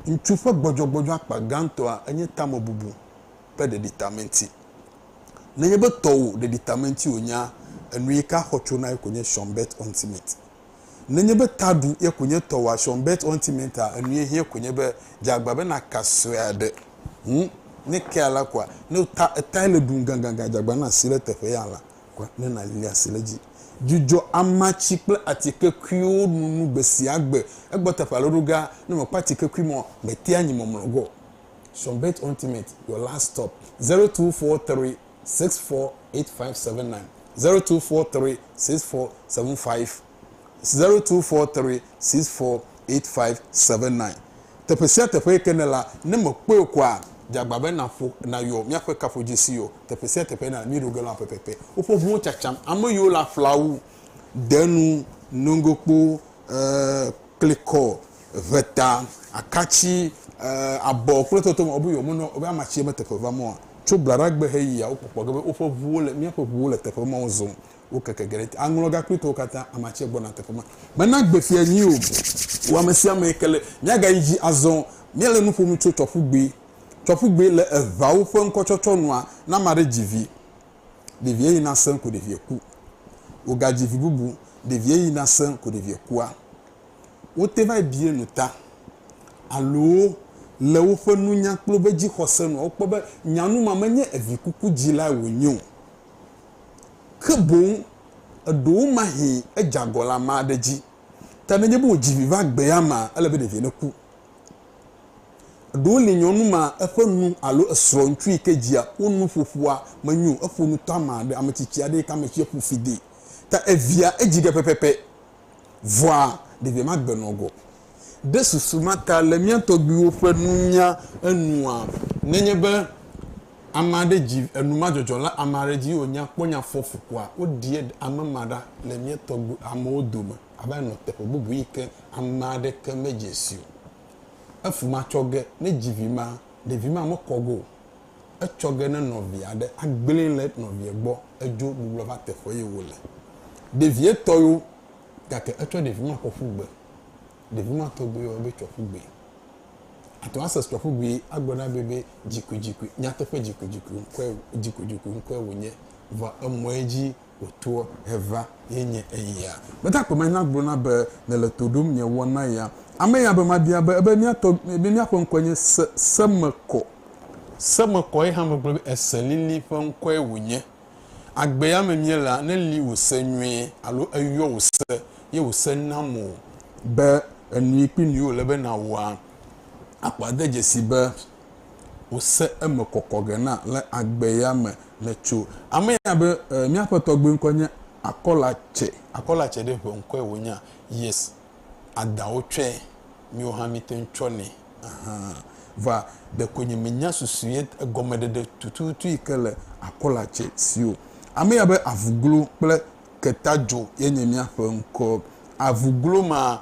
Ŋutsu ƒe gbɔdzɔgbɔdzɔ akpa gãtɔa enye tamebubu ƒe ɖeɖitamenti. Nenye be tɔwò ɖeɖitamenti wònyea, enuika xɔ tso na ye ko nye Sean Bert Onsmith. Nenye be taɖu ye konye tɔ wòa sɔm bet ɔ ŋti mɛ ta enu ye hiɛ konye be dze agba be na ka sɔe a ɖe ŋu ne kea la kɔa ne o ta etae le ɖum gangangan dze agba na si le teƒe ya la kɔa ne na li asi le dzi. Dzudzɔ amatsi kple atike kuiwo nunu gbe sia gbe egbɔ teƒe alo ɖo ga ne me kpɔ atike kui mɔ me tea nyi mɔmlɔ gɔ sɔm bet ɔ ŋti mɛ your last stop zero two four three. 0243648579. Teƒe sia teƒe yi ke nèle la, ne mèkpɔe o koa, dze agbagba be nàƒo nàyɔ míaƒe kaƒodzesi yɔ teƒe sia teƒe na mí ɖo ge lɔ̃a pɛpɛpɛ. Woƒe ʋuwo tsatsam, ame yiwo le aflawu, denu, nogokpo, e, klikɔ, ʋeta, akatsi, abɔ kple totome wobe yewomenɔ wobe amatsie me teƒe va mɔa? Tso blaɖagbe heyia, wokpɔkpɔ ge be woƒe ʋuwo le, míaƒe ʋuwo le teƒe mawo zɔm. Wokeke ge ɖe aŋlɔ gakpritɔwo katã, amatsie gbɔna teƒe ma. Mena gbe fia nyui o. Wò amesiame ke le. Míagayi dzi azɔ. Míele nu ƒom tso tsɔƒugbe. Tsɔƒugbe le eʋawo ƒe ŋkɔtsɔtsɔ nua, ne ame aɖe dzi vi. ɖevie yi na sẽ ko ɖevie ku. Wogadzi vi bubu, ɖevie yi na sẽ ko ɖevie kua. Wote va yi bie nu ta alo le woƒe nunya kple woƒe dzixɔse nua, wokpɔ be nyanu ma menye evi kuku dzilae wònye o, ke boŋ eɖewomahĩ edze agɔ le ame aɖe dzi. Ta nenye be wòdzi vi va gbea mea, ele be ɖevie neku. Ɖewo li nyɔnu ma eƒe nu alo esrɔ̃ ŋutsu yi ke dzia wo nu ƒoƒoa menyo o. Eƒo nu tama ɖe ame tsitsi aɖe yi ke ame tsia ƒu fi dee ta evia edzi ge pɛpɛpɛ. Vɔa ɖevia ma gbe nɔ gɔ. Ɖe susu ma ta le mía tɔgbuiwo ƒe nunya enua? Nenye be ame aɖe dzi enumadzɔdzɔ le ame aɖe dzi ye wònya kpɔ nya fɔfukua, woɖie ame ma ɖa le mía tɔgbuiamewo dome. ava nɔ teƒe bubu yi ke ame aɖeke medze si o. Efu ma tsɔ ge ne dzi vi ma, ɖevi ma mekɔ ge o. Etsɔ ge ne nɔvi aɖe agblẽe le nɔvia gbɔ edzo gbublɔ va teƒe yi wòle. Ɖevia tɔ yo gake etsɔ ɖevi ma kɔ ƒu gbe. Ɖevi ma tɔgbi yɔ be tsɔ ƒu gbee. Àte ŋu ase tsɔ ƒu gbee agblɔ na be be dzikuidzikui, nyateƒe dzikuidzikui ŋkɔe, dzikuidzikui ŋkɔe wònye. Vɔa emɔe dzi Wòtoɔ heva ye nye eya. Gbetakpɔ ma nya gblɔna be, Mele to ɖom nye wɔna ya. Ame ya be mabia be, ebe mía tɔ, ebe mía ƒe ŋkɔe nye Se, Semekɔ. Semekɔ ye hã megblɔ be, Ese lili ƒe ŋkɔe wònye. Agbe ya me míelea, ne li wò se nyuie, alo eyɔ wò se, ye wò se nam wò be, enui kpli nui wòle be nàwɔa, akpɔ ade dzesi be, wose eme kɔkɔ ge na le agbe ya me le tso ame ya be e, míaƒe tɔgbe ŋkɔe nye akɔla tsɛ. Akɔla tsɛ ɖe ƒe ŋkɔe wònya. Yes. Ada wotsɔe. Míwo hã míte ŋu tsɔnɛ. Aha. Vɔa, ɖeko nye menya susu ye egɔmeɖeɖe tututu yi ke le akɔla tsɛ si o. Ame ya be avuglo kple ketadzo ye nye míaƒe ŋkɔ. Avuglo ma,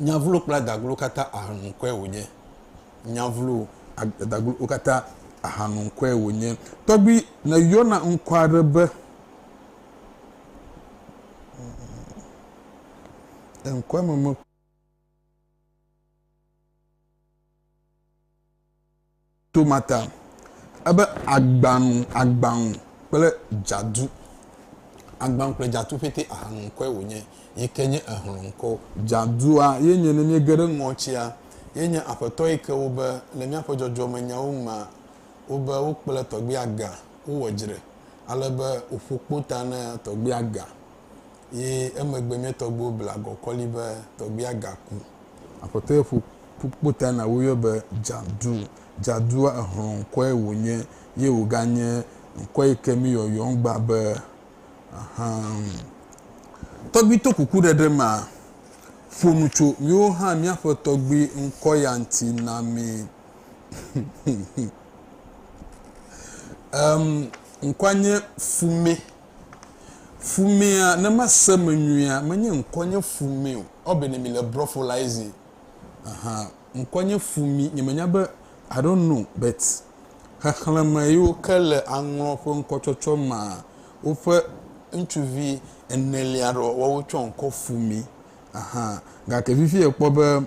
Nyavlo kple adaglo katã ahanukɔe wònye. Nyavlo kple adaglo katã ahanukɔe wònye. Tɔgbui nèyɔna ŋkɔ aɖe be ŋkɔa me me. To ma ta, ebe agbanu, agbaŋu kple dzadu. Agbaŋu kple dzadu ƒete ahanu ŋkɔe wònye, yi ke nye ehlɔ̃ ŋkɔ. Dzadua ye nye ne míege ɖe ŋɔtia, ye nye aƒetɔ yi ke wobe le míaƒe dzɔdzɔmenyawo mea, wobe wokple tɔgbia ga, wowɔ dzre, ale be wòƒo kpo ta na tɔgbia ga. Ye emegbe mía tɔgbuiwo bla agɔkɔli be tɔgbuia gaku. Aƒetɔ ye ƒo ƒu kpota na woyɔe be Jadu. Jadua, exlɔ̃ ŋkɔe wònye ye wòganye ŋkɔ yi ke mí yɔyɔm gbã be ahan. Tɔgbui to kukuɖeɖe ma ƒo nu tso míwo hã míaƒe tɔgbui ŋkɔ ya ŋuti na mí. Ŋkɔa nye Fumé. Fumea ne mase me nyuia menye ŋkɔnye fumeo ɔ bene mi le brɔ fo la ezi ahan ŋkɔnye fumi nye menya be I don't know but xexleme yiwo ke le aŋlɔ ƒe ŋkɔtsɔtsɔ ma woƒe ŋutsuvi enelia ɖɔ woawo tsɔ ŋkɔ fumi ahan gake fifi ekpɔ be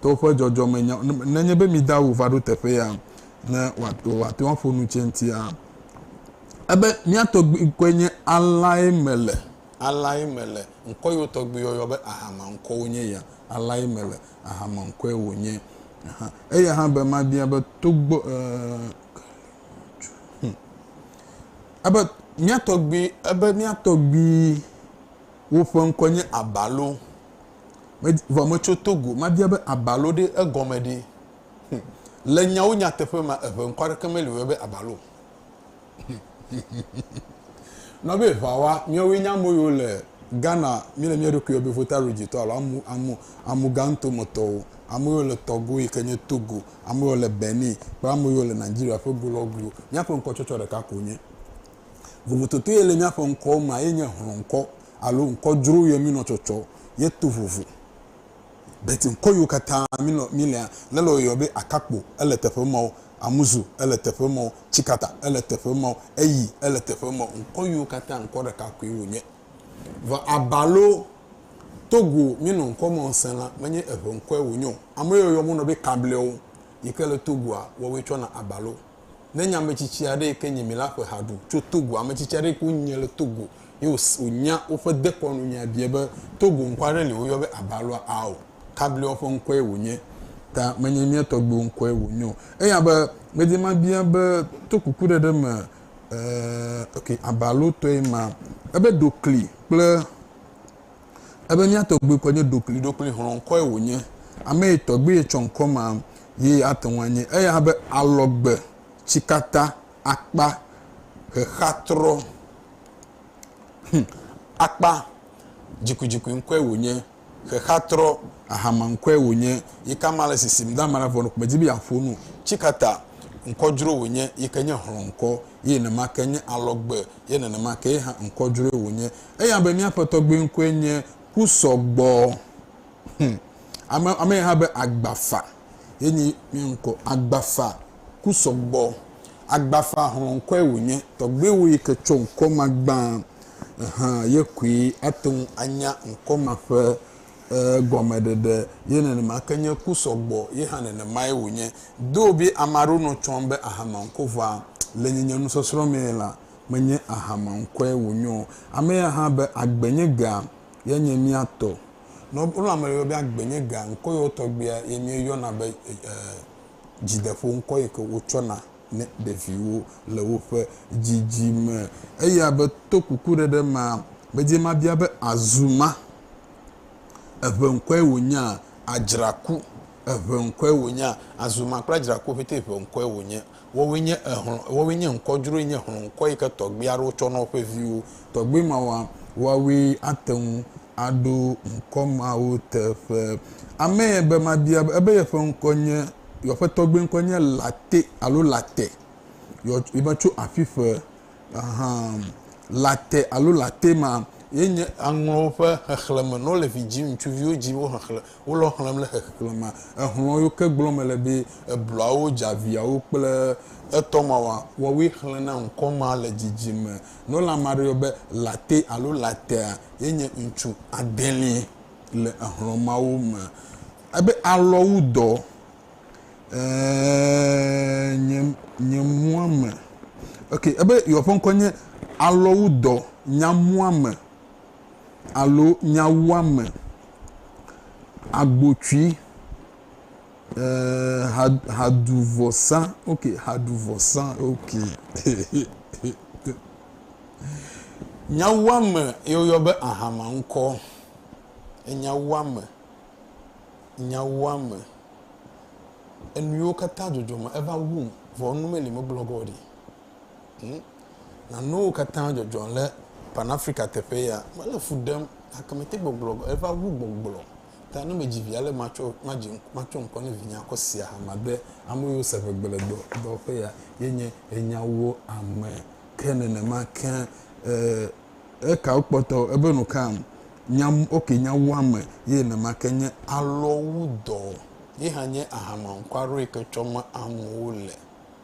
to woƒe dzɔdzɔmenyawo ŋu. Nenye be mi dawo va ɖo teƒe ya ne wòate ŋu aƒo nu tse ŋutia, ebe mía tɔgbuikɔe nye Alae Mele, Alae Mele, ŋkɔ yi wo tɔgbi yɔyɔ be Ahama ŋkɔ wonye ya, Alae Mele, Ahama ŋkɔe wònye. Aha. Eya hã be mabia be togbɔ, eh, hm, ebe mía tɔgbui, ebe mía tɔgbui woƒe ŋkɔ nye Abalo. Me, vɔ metso Togo. Mabia be abalo ɖe, egɔme ɖe? Hum. Le nyawo nyateƒe mea, eŋe ŋkɔ aɖeke meli wɔe be abalo o. Nɔ be ʋawa, míawoe nye ame yiwo le Ghana, míele mía ɖokui yɔ be Votarudzitɔ alo amu, amu, amuganto me tɔwo, ame yiwo le tɔgo yi ke nye Togo, ame yiwo le Benin kple ame yiwo le Nigeria ƒe go lɔ goe. Míaƒe ŋkɔtsɔtsɔ ɖeka ko wonye. Vovototo ye le míaƒe ŋkɔwo mea, ye nye hlɔ̃ŋkɔ. Alo ŋkɔ dzro yɔe mi nɔ tsɔtsɔ ye to vovo. But ŋkɔ yiwo katã mi nɔ mi lea, le lɔ yɔe be Akakpo ele teƒe mɔ, Amuzu ele teƒe mɔ, Tsikata ele teƒe mɔ, Eyi ele teƒe mɔ. Ŋkɔ yiwo katã ŋkɔ ɖeka koe wo nye. Vɔ aba lo Togo mi nɔ ŋkɔ mɔ ŋsɛn la me nye eŋe ŋkɔe wo nye o. Ame yiwo yɔ wo nɔ be Kablewo yike le Togoa woawoe tsɔ na aba lo. Ne nye ame tsitsi aɖe yi ke nye mi la ƒe ha ɖu tso Togo, ame tsitsi aɖe yi ke wonye le Togo ye wònya woƒe dekɔnu nya biae be, Togo ŋkɔ aɖe li woyɔ be Aba alo Ao. Kablewo ƒe ŋkɔe wònye. Ta menye mía tɔgbuiwo ŋkɔe wònye o. Eya be, medi mabia be to kukuɖeɖe me, ɛɛ, ok, Aba alo tɔe ma. Ebe ɖo kli kple. Ebe mía tɔgbui kɔ nye ɖokli ɖokli hlɔ̃kɔe wònye. Ame yi tɔgbui yetsɔ ŋkɔ ma ye ate ŋu anye. Eya be alɔgbe, tsikata, akpa, xexeatrɔ, hm, akpa, dzikudzikui ŋkɔe wònye, xexeatrɔ, ahama ŋkɔe wònye, yi ke amea le sisim do amea vɔ medi be yeaƒo nu o. Tsikata, ŋkɔdzro wònye yi ke nye hlɔ̃kɔ ye nenema ke nye alɔgbe ye nenema ke ye hã ŋkɔdzroe wònye. Eya be míaƒe tɔgbui ŋkɔe nye Kusɔgbɔ. Hum. Ame, ame hã be Agbafa. Ye nye mía ŋkɔ. Agbafa Kusɔgbɔ. Agbafa hlɔ̃kɔe wònye. Tɔgbuiwò yi ke tsɔ ŋkɔ ma gbã hã ye koe ate ŋu anya ŋkɔ ma ƒe e, gɔmeɖeɖe. Ye nenema ke nye Kusɔgbɔ ye hã nenemae wònye. Doo be ame aɖewo nɔ tsɔm be ahanɔ ŋkɔ vɔa le nye nye nusɔsrɔ̃ mee la, menye aha ma ŋkɔe wònyo o. Ame ya hã be, Agbe nye gea, ye nye mía tɔ. Ne wonɔ ame yɔ be agbe nye gea, ŋkɔ yewo tɔgbia ye míeyɔna be e, dzideƒo, ŋkɔ yi ke wotsɔna ne ɖeviwo le woƒe dzidzime. Eya be, To kukuɖeɖe ma, medze ema bia be, Azuma, eŋe ŋkɔe wònyea? Adzraku, eŋe ŋkɔe wònyea? Azuma kple adzraku ƒete eŋe ŋkɔe wònye. Woawoe nye exlɔ, woawoe nye ŋkɔ dzroe, nye xlɔ ŋkɔ yi ke tɔgbui aɖewo tsɔ na woƒe viwo. Tɔgbui mawoa, woawoe ate ŋu aɖo ŋkɔ mawo teƒe. Amee be mabia be ebe yeƒe ŋkɔ nye, yeƒe tɔgbui ŋkɔ nye Late alo Late. Yɔ, yibe tso aƒiƒe. Aha. Late alo Late ma ye nye aŋlɔwo ƒe xexlẽme. Ne wole vi dzim, ŋutsuviwo dzim, wo xexlẽ. Wo lɔ xlẽm le xexlẽ ma. Exlɔ̃ yo ke gblɔm mele be ebluawo, dzaviawo kple etɔmawa wɔwoe xlẽna ŋkɔ ma le dzidzime. Nɔla ma ɖe yɔ be Latte alo Lattea ye nye ŋutsu adeli le exlɔ̃ mawo me. Ebe alɔ wu dɔ. Ɛɛ, nye muame. Ok, ebe yeɔƒe ŋkɔ nye alɔ wu dɔ, nya muame. alo nyawuame agbotsui ha haɖuvɔsa ok haɖuvɔsa ok nyawuame ye woyɔ be ahama ŋkɔ enyawuame nyawuame enuyiwo katã dzɔdzɔme eva wum vɔ nu meli megblɔ ge o ɖi. Ŋu. Na nuwo katã dzɔdzɔ le Pan-Afrika teƒe ya. Mele fu ɖem, gake mete gbɔgblɔ be eva wu gbɔgblɔ. Ta ne medzi vi ale matsɔ, madzi, matsɔ ŋkɔ ne vinye akɔ si ahama be ame yiwo se ʋegbe le dɔ, dɔwɔƒe ya ye nye enyawo ame. Ke nenema ke, e, ekawo kpɔtɔ, ebe nukam? Nya, ok, nyawo ame ye nenema ke nye alɔwu dɔ. Ye hã nye ahama ŋkɔaɖoe ke tsɔ ma amewo le.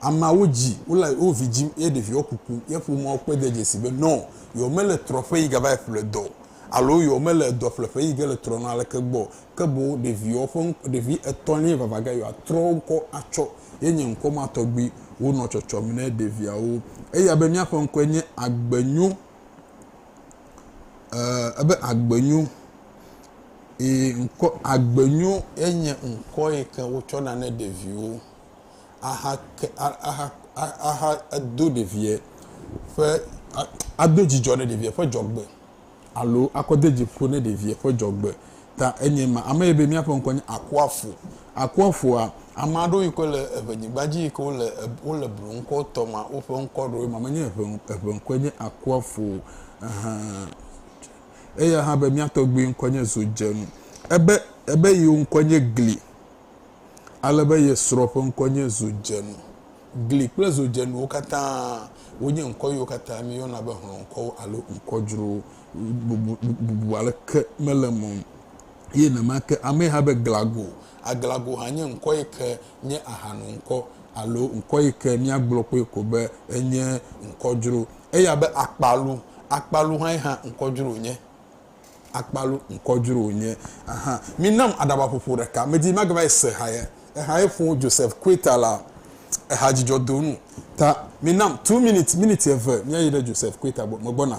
Ameawo dzi wole wo vi dzim ye ɖeviwo kukum ye ƒomeawo kpɔe de dzesi be nɔ yewomele trɔƒe yi gava yi ƒle dɔ o alo yewomele dɔƒleƒe yi ge le trɔna aleke gbɔ o, ke boŋ ɖeviwo ƒe ŋkɔ, ɖevi etɔ̃lie vava ge yewoatrɔ wo ŋkɔ atsɔ ye nye ŋkɔ ma tɔgbi wonɔ tsɔtsɔm ne ɖeviawo. Eya be míaƒe ŋkɔe nye Agbenyo, e, ebe Agbenyo. Ŋkɔ, Agbenyo ye nye ŋkɔ yi ke wotsɔna ne ɖeviwo. axa ke axa axa ado ɖeviɛ ƒe ado dzidzɔ ne ɖeviɛ ƒe dzɔgbe alo akɔ de dzi ƒo ne ɖeviɛ ƒe dzɔgbe ta enye ma. Ame yi be míaƒe ŋkɔ nye Akuafo. Akuafoa, ame aɖewo yi ke le eŋe nyigba dzi yi ke wole wole blu ŋkɔ tɔ ma woƒe ŋkɔ ɖewoe ma. Menye eŋe eŋe ŋkɔe nye Akuafo o. Ehe. Eya hã be mía tɔgbui ŋkɔ nye Zodjenu. Ebe ebe yewo ŋkɔ nye Gli. Ale be ye srɔ̃ ƒe ŋkɔ nye Zodzenu. Gli kple zodzenuwo katã wonye ŋkɔ yiwo katã míeyɔna be hlɔ̃ŋkɔwo alo ŋkɔ dzrowo. Bubu, bubu aleke mele eme o. Eye nenema ke amee hã be Glago. Aglago hã nye ŋkɔ yi ke nye ahanoŋkɔ alo ŋkɔ yi ke míagblɔ kpɔe ko be enye ŋkɔ dzro. Eya be Akpalu. Akpalu hãe hã ŋkɔ dzro wònye. Akpalu ŋkɔ dzro wònye hã. Minam aɖabaƒoƒo ɖeka. Medi be magava yi se ehaye. Ehaye ƒo Joseph Queta la ehadzidzɔdonu ta. Minam two minutes, miniti eve míayi ɖe Joseph Queta gbɔ. Megbɔna.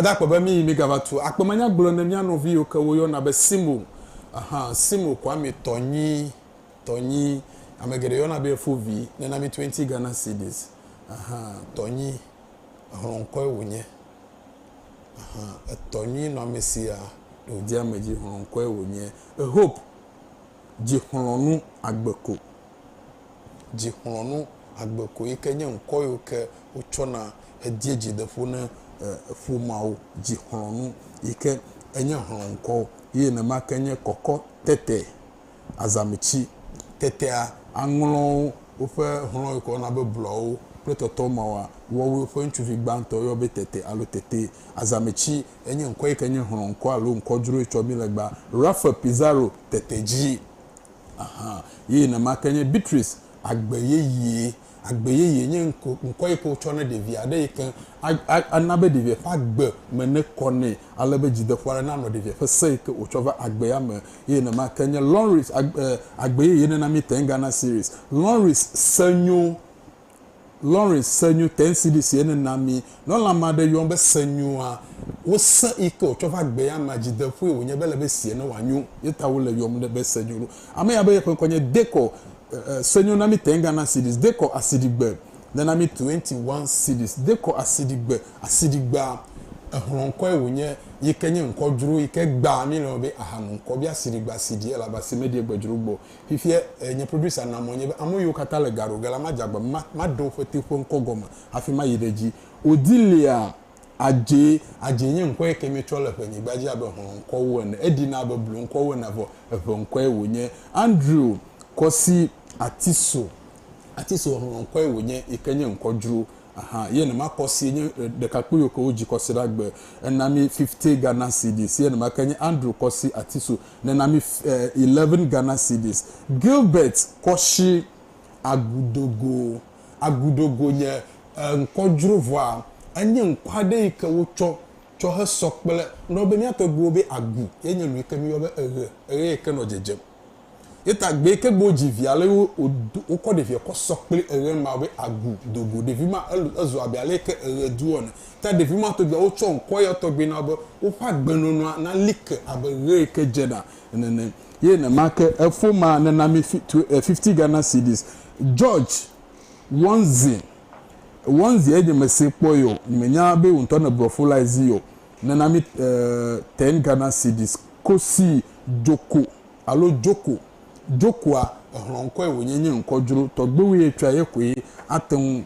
gbadakpe be míyi migava tu akpemanya gblɔ ne mía nɔvi yiwo ke woyɔna be simo aha simo kwame tɔ nyi Tɔnyi, ame geɖe yɔna be Fovi, nena mi twenty Ghana cedis. Ɛhɛ, tɔnyi, exlɔ ŋkɔe wònye. Ɛhɛ, etɔ nyui nɔ ame sia ɖe wòdi ame dzi, xlɔ ŋkɔe wònye. Ehope, dzi xlɔ nu agbe ko. Dzi xlɔ nu agbe ko yi ke nye ŋkɔ yiwo ke wotsɔna hedie dzideƒo ne ƒomeawo. Dzi xlɔ nu yi ke enye xlɔ ŋkɔ ye nenema ke nye kɔkɔ tete. azãmetsi. Tetea, aŋlɔwo, woƒe hlɔ̃e kɔ na be blɔawo kple tɔtɔ mawa wɔwɔe ƒe ŋutsuvi gbãtɔ yɔ be tete alo tete. Azãmetsi enye ŋkɔ yi ke nye hlɔ̃ŋkɔ alo ŋkɔdzroe tsɔ mí le gba Rafael Pizarro tete dzi. Ahan, ye nenema ke nye Beatriz agbe yeye. Agbe yeye nye ŋkɔ yi ke wotsɔ ne ɖevi aɖe yi ke ana be ɖevia ƒe agbe me nekɔ nɛ ale be dzideƒo aɖe nanɔ ɖevia ƒe se yi ke wòtsɔ va agbea me. Eye nenema ke nye Lawrence agbe yeye nena mí Ten Ghana Cedis, Lawrence se nyo, Lawrence se nyo, Ten Cedis ye nena mí. Ne wolé ame aɖe yɔm be se nyoa, wo se yi ke wòtsɔ va agbea mea, dzideƒoe wònye be ele be sie ne wòanyo. Ye ta wole yɔm be se nyo ɖo. Ame ya be yeƒe ŋkɔ nye Decor. Senyo na mí tɛnga na cities dekɔ asiɖigbe ne na mí twenty one cities dekɔ asiɖigbe asiɖigbea exlɔ ŋkɔe wònye yike nye ŋkɔ dzro yike gbaa mí lɔn be aha nu ŋkɔ be asiɖigbe asiɖi elaba si meɖie gbe dzro gbɔ fifie nye producer na mɔ nye be ame yiwo kata le gaɖo ge la ma dze agba be ma ma ɖe woƒe teƒe ŋkɔ gɔme hafi ma yi ɖe dzi o di lia Adze, Adze nye ŋkɔ yi ke míetsɔ le ʋenyigba dzi abe hlɔ̃ŋkɔwo ene. Eɖina abe bloŋkɔwo ene vɔ eʋeŋkɔe wònye. Andrew, Kɔsi, Atiso, Atiso hlɔ̃ŋkɔe wònye yi ke nye ŋkɔ dzro. Aha, ye nema Kɔsi nye ɖekakpui yiwo ke wodzi Kɔsi ɖe agbe hena mí fifty Ghana cedis. Ye nema ke nye Andrew, Kɔsi, Atiso nena mí eleven Ghana cedis. Gilbert, Kɔshi, Agudogo. Agudogo nye ŋkɔ dzro vɔa enye ŋkɔ aɖe yi ke wotsɔ tsɔ he sɔ kple nɔ be mía tɔgbuiwo be Agu ye nye nu yi ke míyɔ be eɣe, eɣe yi ke nɔ dzedzem. Ye ta gbe yi ke gbe wodzi via le wo wodo wokɔ ɖevia kɔ sɔ kple eɣe ma be Agu dogo. Ɖevi ma el ezu abe ale yi ke eɣe do ene. Ta ɖevi ma tɔgbui wotsɔ ŋkɔ ya tɔgbi na be woƒe agbenɔnɔa na li ke abe ɣe yi ke dze ɖa nene. Ye nemae ke efoma nena mí fifty Ghana cedis. George, Wɔnzi, Wɔnzi enye mese kpɔe o, menya be wò ŋutɔ nèblɔ fo la zi o, nena mi ten Ghana cedis kosi Djoko alo Joko, Djokoa, exlɔ̃ ŋkɔe wònye nye ŋkɔdzro, tɔgbewoe etsɔa ye koe ate ŋu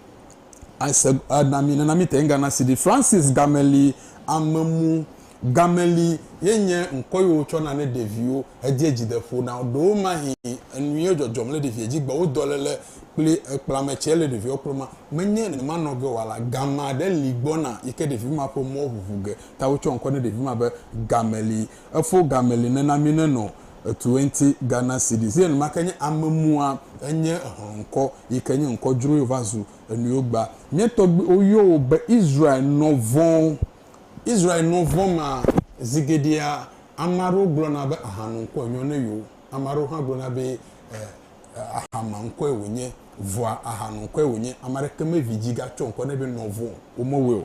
ase ana mí nena míete ŋu ana CD. Francis Gameli, Amemu Gameli ye nye ŋkɔ yi wotsɔna ne ɖeviwo hedze dzi de ƒo na wo. Ɖewomahĩ enu ye dzɔdzɔm le ɖevia dzi gbɔa, wo dɔlele kple ekplame tsɛ le ɖeviawo kplɔm ma, menye nenema nɔ ge o ala gama aɖe li gbɔna yi ke ɖevi ma ƒe mɔ ʋuʋu ge ta wotsɔ ŋkɔ ne ɖevi ma be Gameli. Efo game li nena mi ne nɔ etwenty Ghana cedis ye enumake nye ame mua enye hlɔnkɔ yike nye nkɔ dzroe va zu enuiwo gba. Mía tɔgbuiwo yɔ wo be Israel nɔvɔn. Israel nɔvɔn ma zigeɖea ame aɖewo gblɔna be ahanu ŋkɔe nyɔ ne yewo. Ame aɖewo hã gblɔna be ahama ŋkɔe wonye vɔa ahanu ŋkɔe wonye. Ame aɖeke me vi dzi ga tsɔ ŋkɔ ne be nɔvɔn o. Wome wɔe o.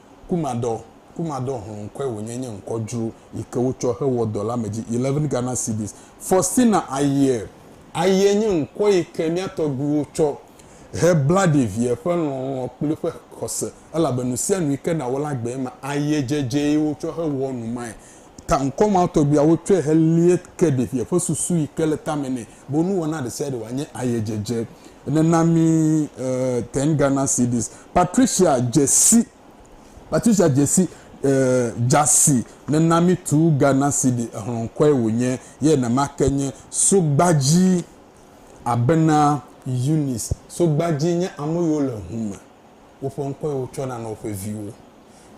Kumadɔ, Kumadɔ Hlonkɔe wònye nye ŋkɔdzru yi ke wotsɔ hewɔ dɔ la me dzi, eleven Ghana cedis. Faustina Ayiɛ, Ayiɛ nye ŋkɔ yi ke mía tɔgbuiwo tsɔ hebla ɖevia ƒe lɔlɔ̃ kple eƒe xɔse, elabe nusianu yi ke nàwɔ la gbee ma, ayiɛ dzedzee wotsɔ hewɔ numae. Ta ŋkɔ ma tɔgbi awo tsɔe helie ke ɖevia ƒe susu yi ke le tame nɛ be nuwɔna ɖesiaɖe wòanye ayedzedze ene na mí. E Ten Ghana Cedis. Patricia dze si, Patricia dze si, E dza si ne na mí tu Ghana Cedi. Exlɔ ŋkɔe wònye ye nemake nye Sogbaji abena Eunice. Sogbaji nye ame yiwo le ŋu me. Woƒe ŋkɔe wotsɔna na woƒe viwo.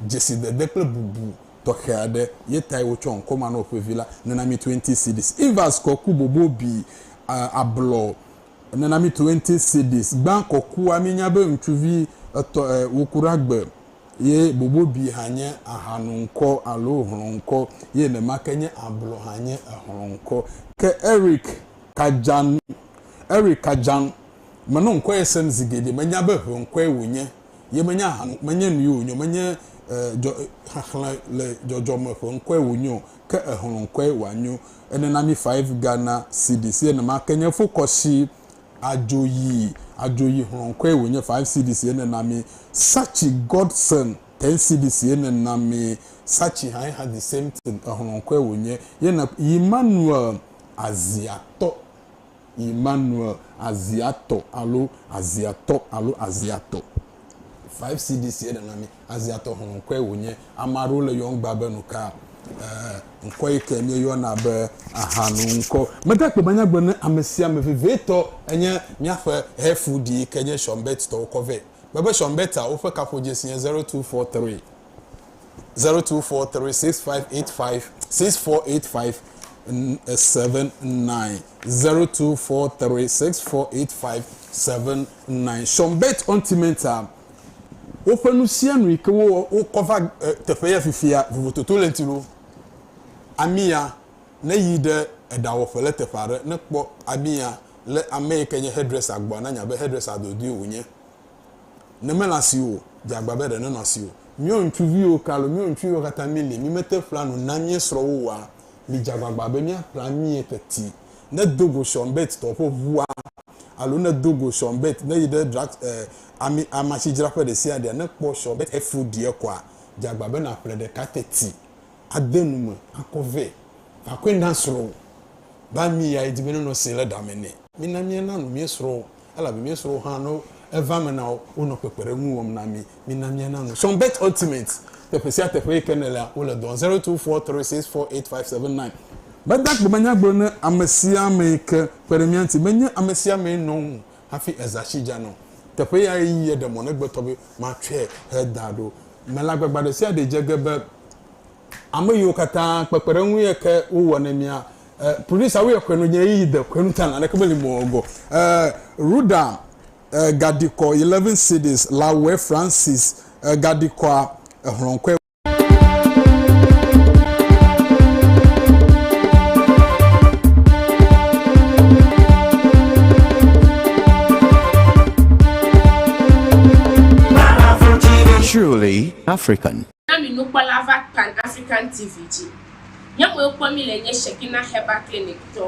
Dzesidede kple bubu. tɔxɛ aɖe ye tae wotsɔ ŋkɔ ma na woƒe vi la, Nenami Twenty Cedis. Evers kɔ ku bobo bi ablɔ Nenami Twenty Cedis. Gbã kɔ kua, míenya be ŋutsuvi etɔ̃ e woku ɖe agbe ye bobo bi hã nye ahanu ŋkɔ alo hlɔ̃ ŋkɔ ye nemake nye ablɔ hã nye ehlɔ̃ ŋkɔ. Ke Eric Kajan, Eric Kajan, menɔ ŋkɔ ye sem zi geɖe, menya be ʋe ŋkɔe wònye. Ye menye ahan, menye nui wònyo, menye e, dzɔ, e, xexlẽ le dzɔdzɔme ƒe ŋkɔe wònyo, ke exlɔ̃ ŋkɔe wòanyo. Ene na mi five Ghana cedis. Ene ma ke nye fokɔshi adzoyi, adzoyi xlɔ̃ ŋkɔe wònye five cedis. Ene na mi Sachi Godson ten cedis. Ene na mi Sachi hãe hã the same thing, exlɔ̃ ŋkɔe wònye. Ye ne Emmanuel Aziatɔ. Immanuel Aziatɔ alo Aziatɔ alo Aziatɔ. 5 CDCA ɖe na mí Aziatɔ xlẽ ŋkɔe wònye. Ame aɖewo le yɔm gbã be nuka? Ɛɛ, ŋkɔ yi ke míeyɔna be ahanu ŋkɔ. Mede akpe be nyagblɔ ne ame sia ame vevitɔ enye míaƒe Hefu Di yi ke nye Shɔmbɛt tɔwo kɔ vɛ. Kpɔe be Shɔmbɛt a, woƒe kaƒodzesi nye 0243. zero two four three six five eight five six four eight five eh, seven nine zero two four three six four eight five seven nine sɔmbɛt ɔntimɛnta woƒe nu sia nu yi ke wo wokɔ va eh, teƒe ya fifia vovototo le ŋuti ɖo ami ya ne yi ɖe eɖawɔƒe le teƒe aɖe ne kpɔ ami ya le ame yi ke nye hairdresser gbɔ na nya be hairdresser dodoe wònye ne mele asi o, dze agba be ɖe nenɔ asi o. Míawo ŋutsuviwo ke alo míawo ŋutsuviwo katã míli, mímete ƒlea nu na mía srɔ̃wo oa? Midze agbagba be míaƒle amie teti. Ne do go Sean Burt tɔ ƒe ʋua alo ne do go Sean Burt ne yi ɖe drug, e, ami, amasidzraƒe ɖesiaɖea, ne kpɔ Sean Burt eflu ɖi ekɔa, dze agba be nàƒle ɖeka teti. ade nu me akɔ vɛ. Vakɔe na srɔ̃wò, be ami yae di be nenɔ sẽe le ɖa me nɛ. Mina míana nu mía srɔ̃wo, elabe mía srɔ̃wo hã, ne eva eme na wo, wonɔ kpekpeɖeŋu wɔm na mí. Mina míana nu. Sunbet Ultimate, Teƒe sia teƒe yi ke nèlea, wole dɔ wɔm. Zero two four three six four eight five seven nine. Meda gbemenyagblɔ ne amesiamee yi ke kpe ɖe mía ŋuti be nye amesiamee nɔ ŋu Hafi eza tsi dza nɔ teƒe yae yi yeɖe mɔ na egbetɔ be, Matsɔe heda ɖo. Melagbagba ɖe sia ɖe dze ge be ame yiwo katã kpekpeɖeŋu ye ke wowɔ nɛ mía e producer wo ye xɔe nɔ ye yi de xɔe nu ta naneke meli mɔ wòagɔ e Ruda e gaɖi kɔ eleven cds la wɔe Francis e gaɖi kɔa exlɔ̃ kɔe. Truly African. Na mi nukpɔla va Pan African TV dzi. Nye mɔe kpɔ mi le nye Shekina Herbal Clinic tɔ.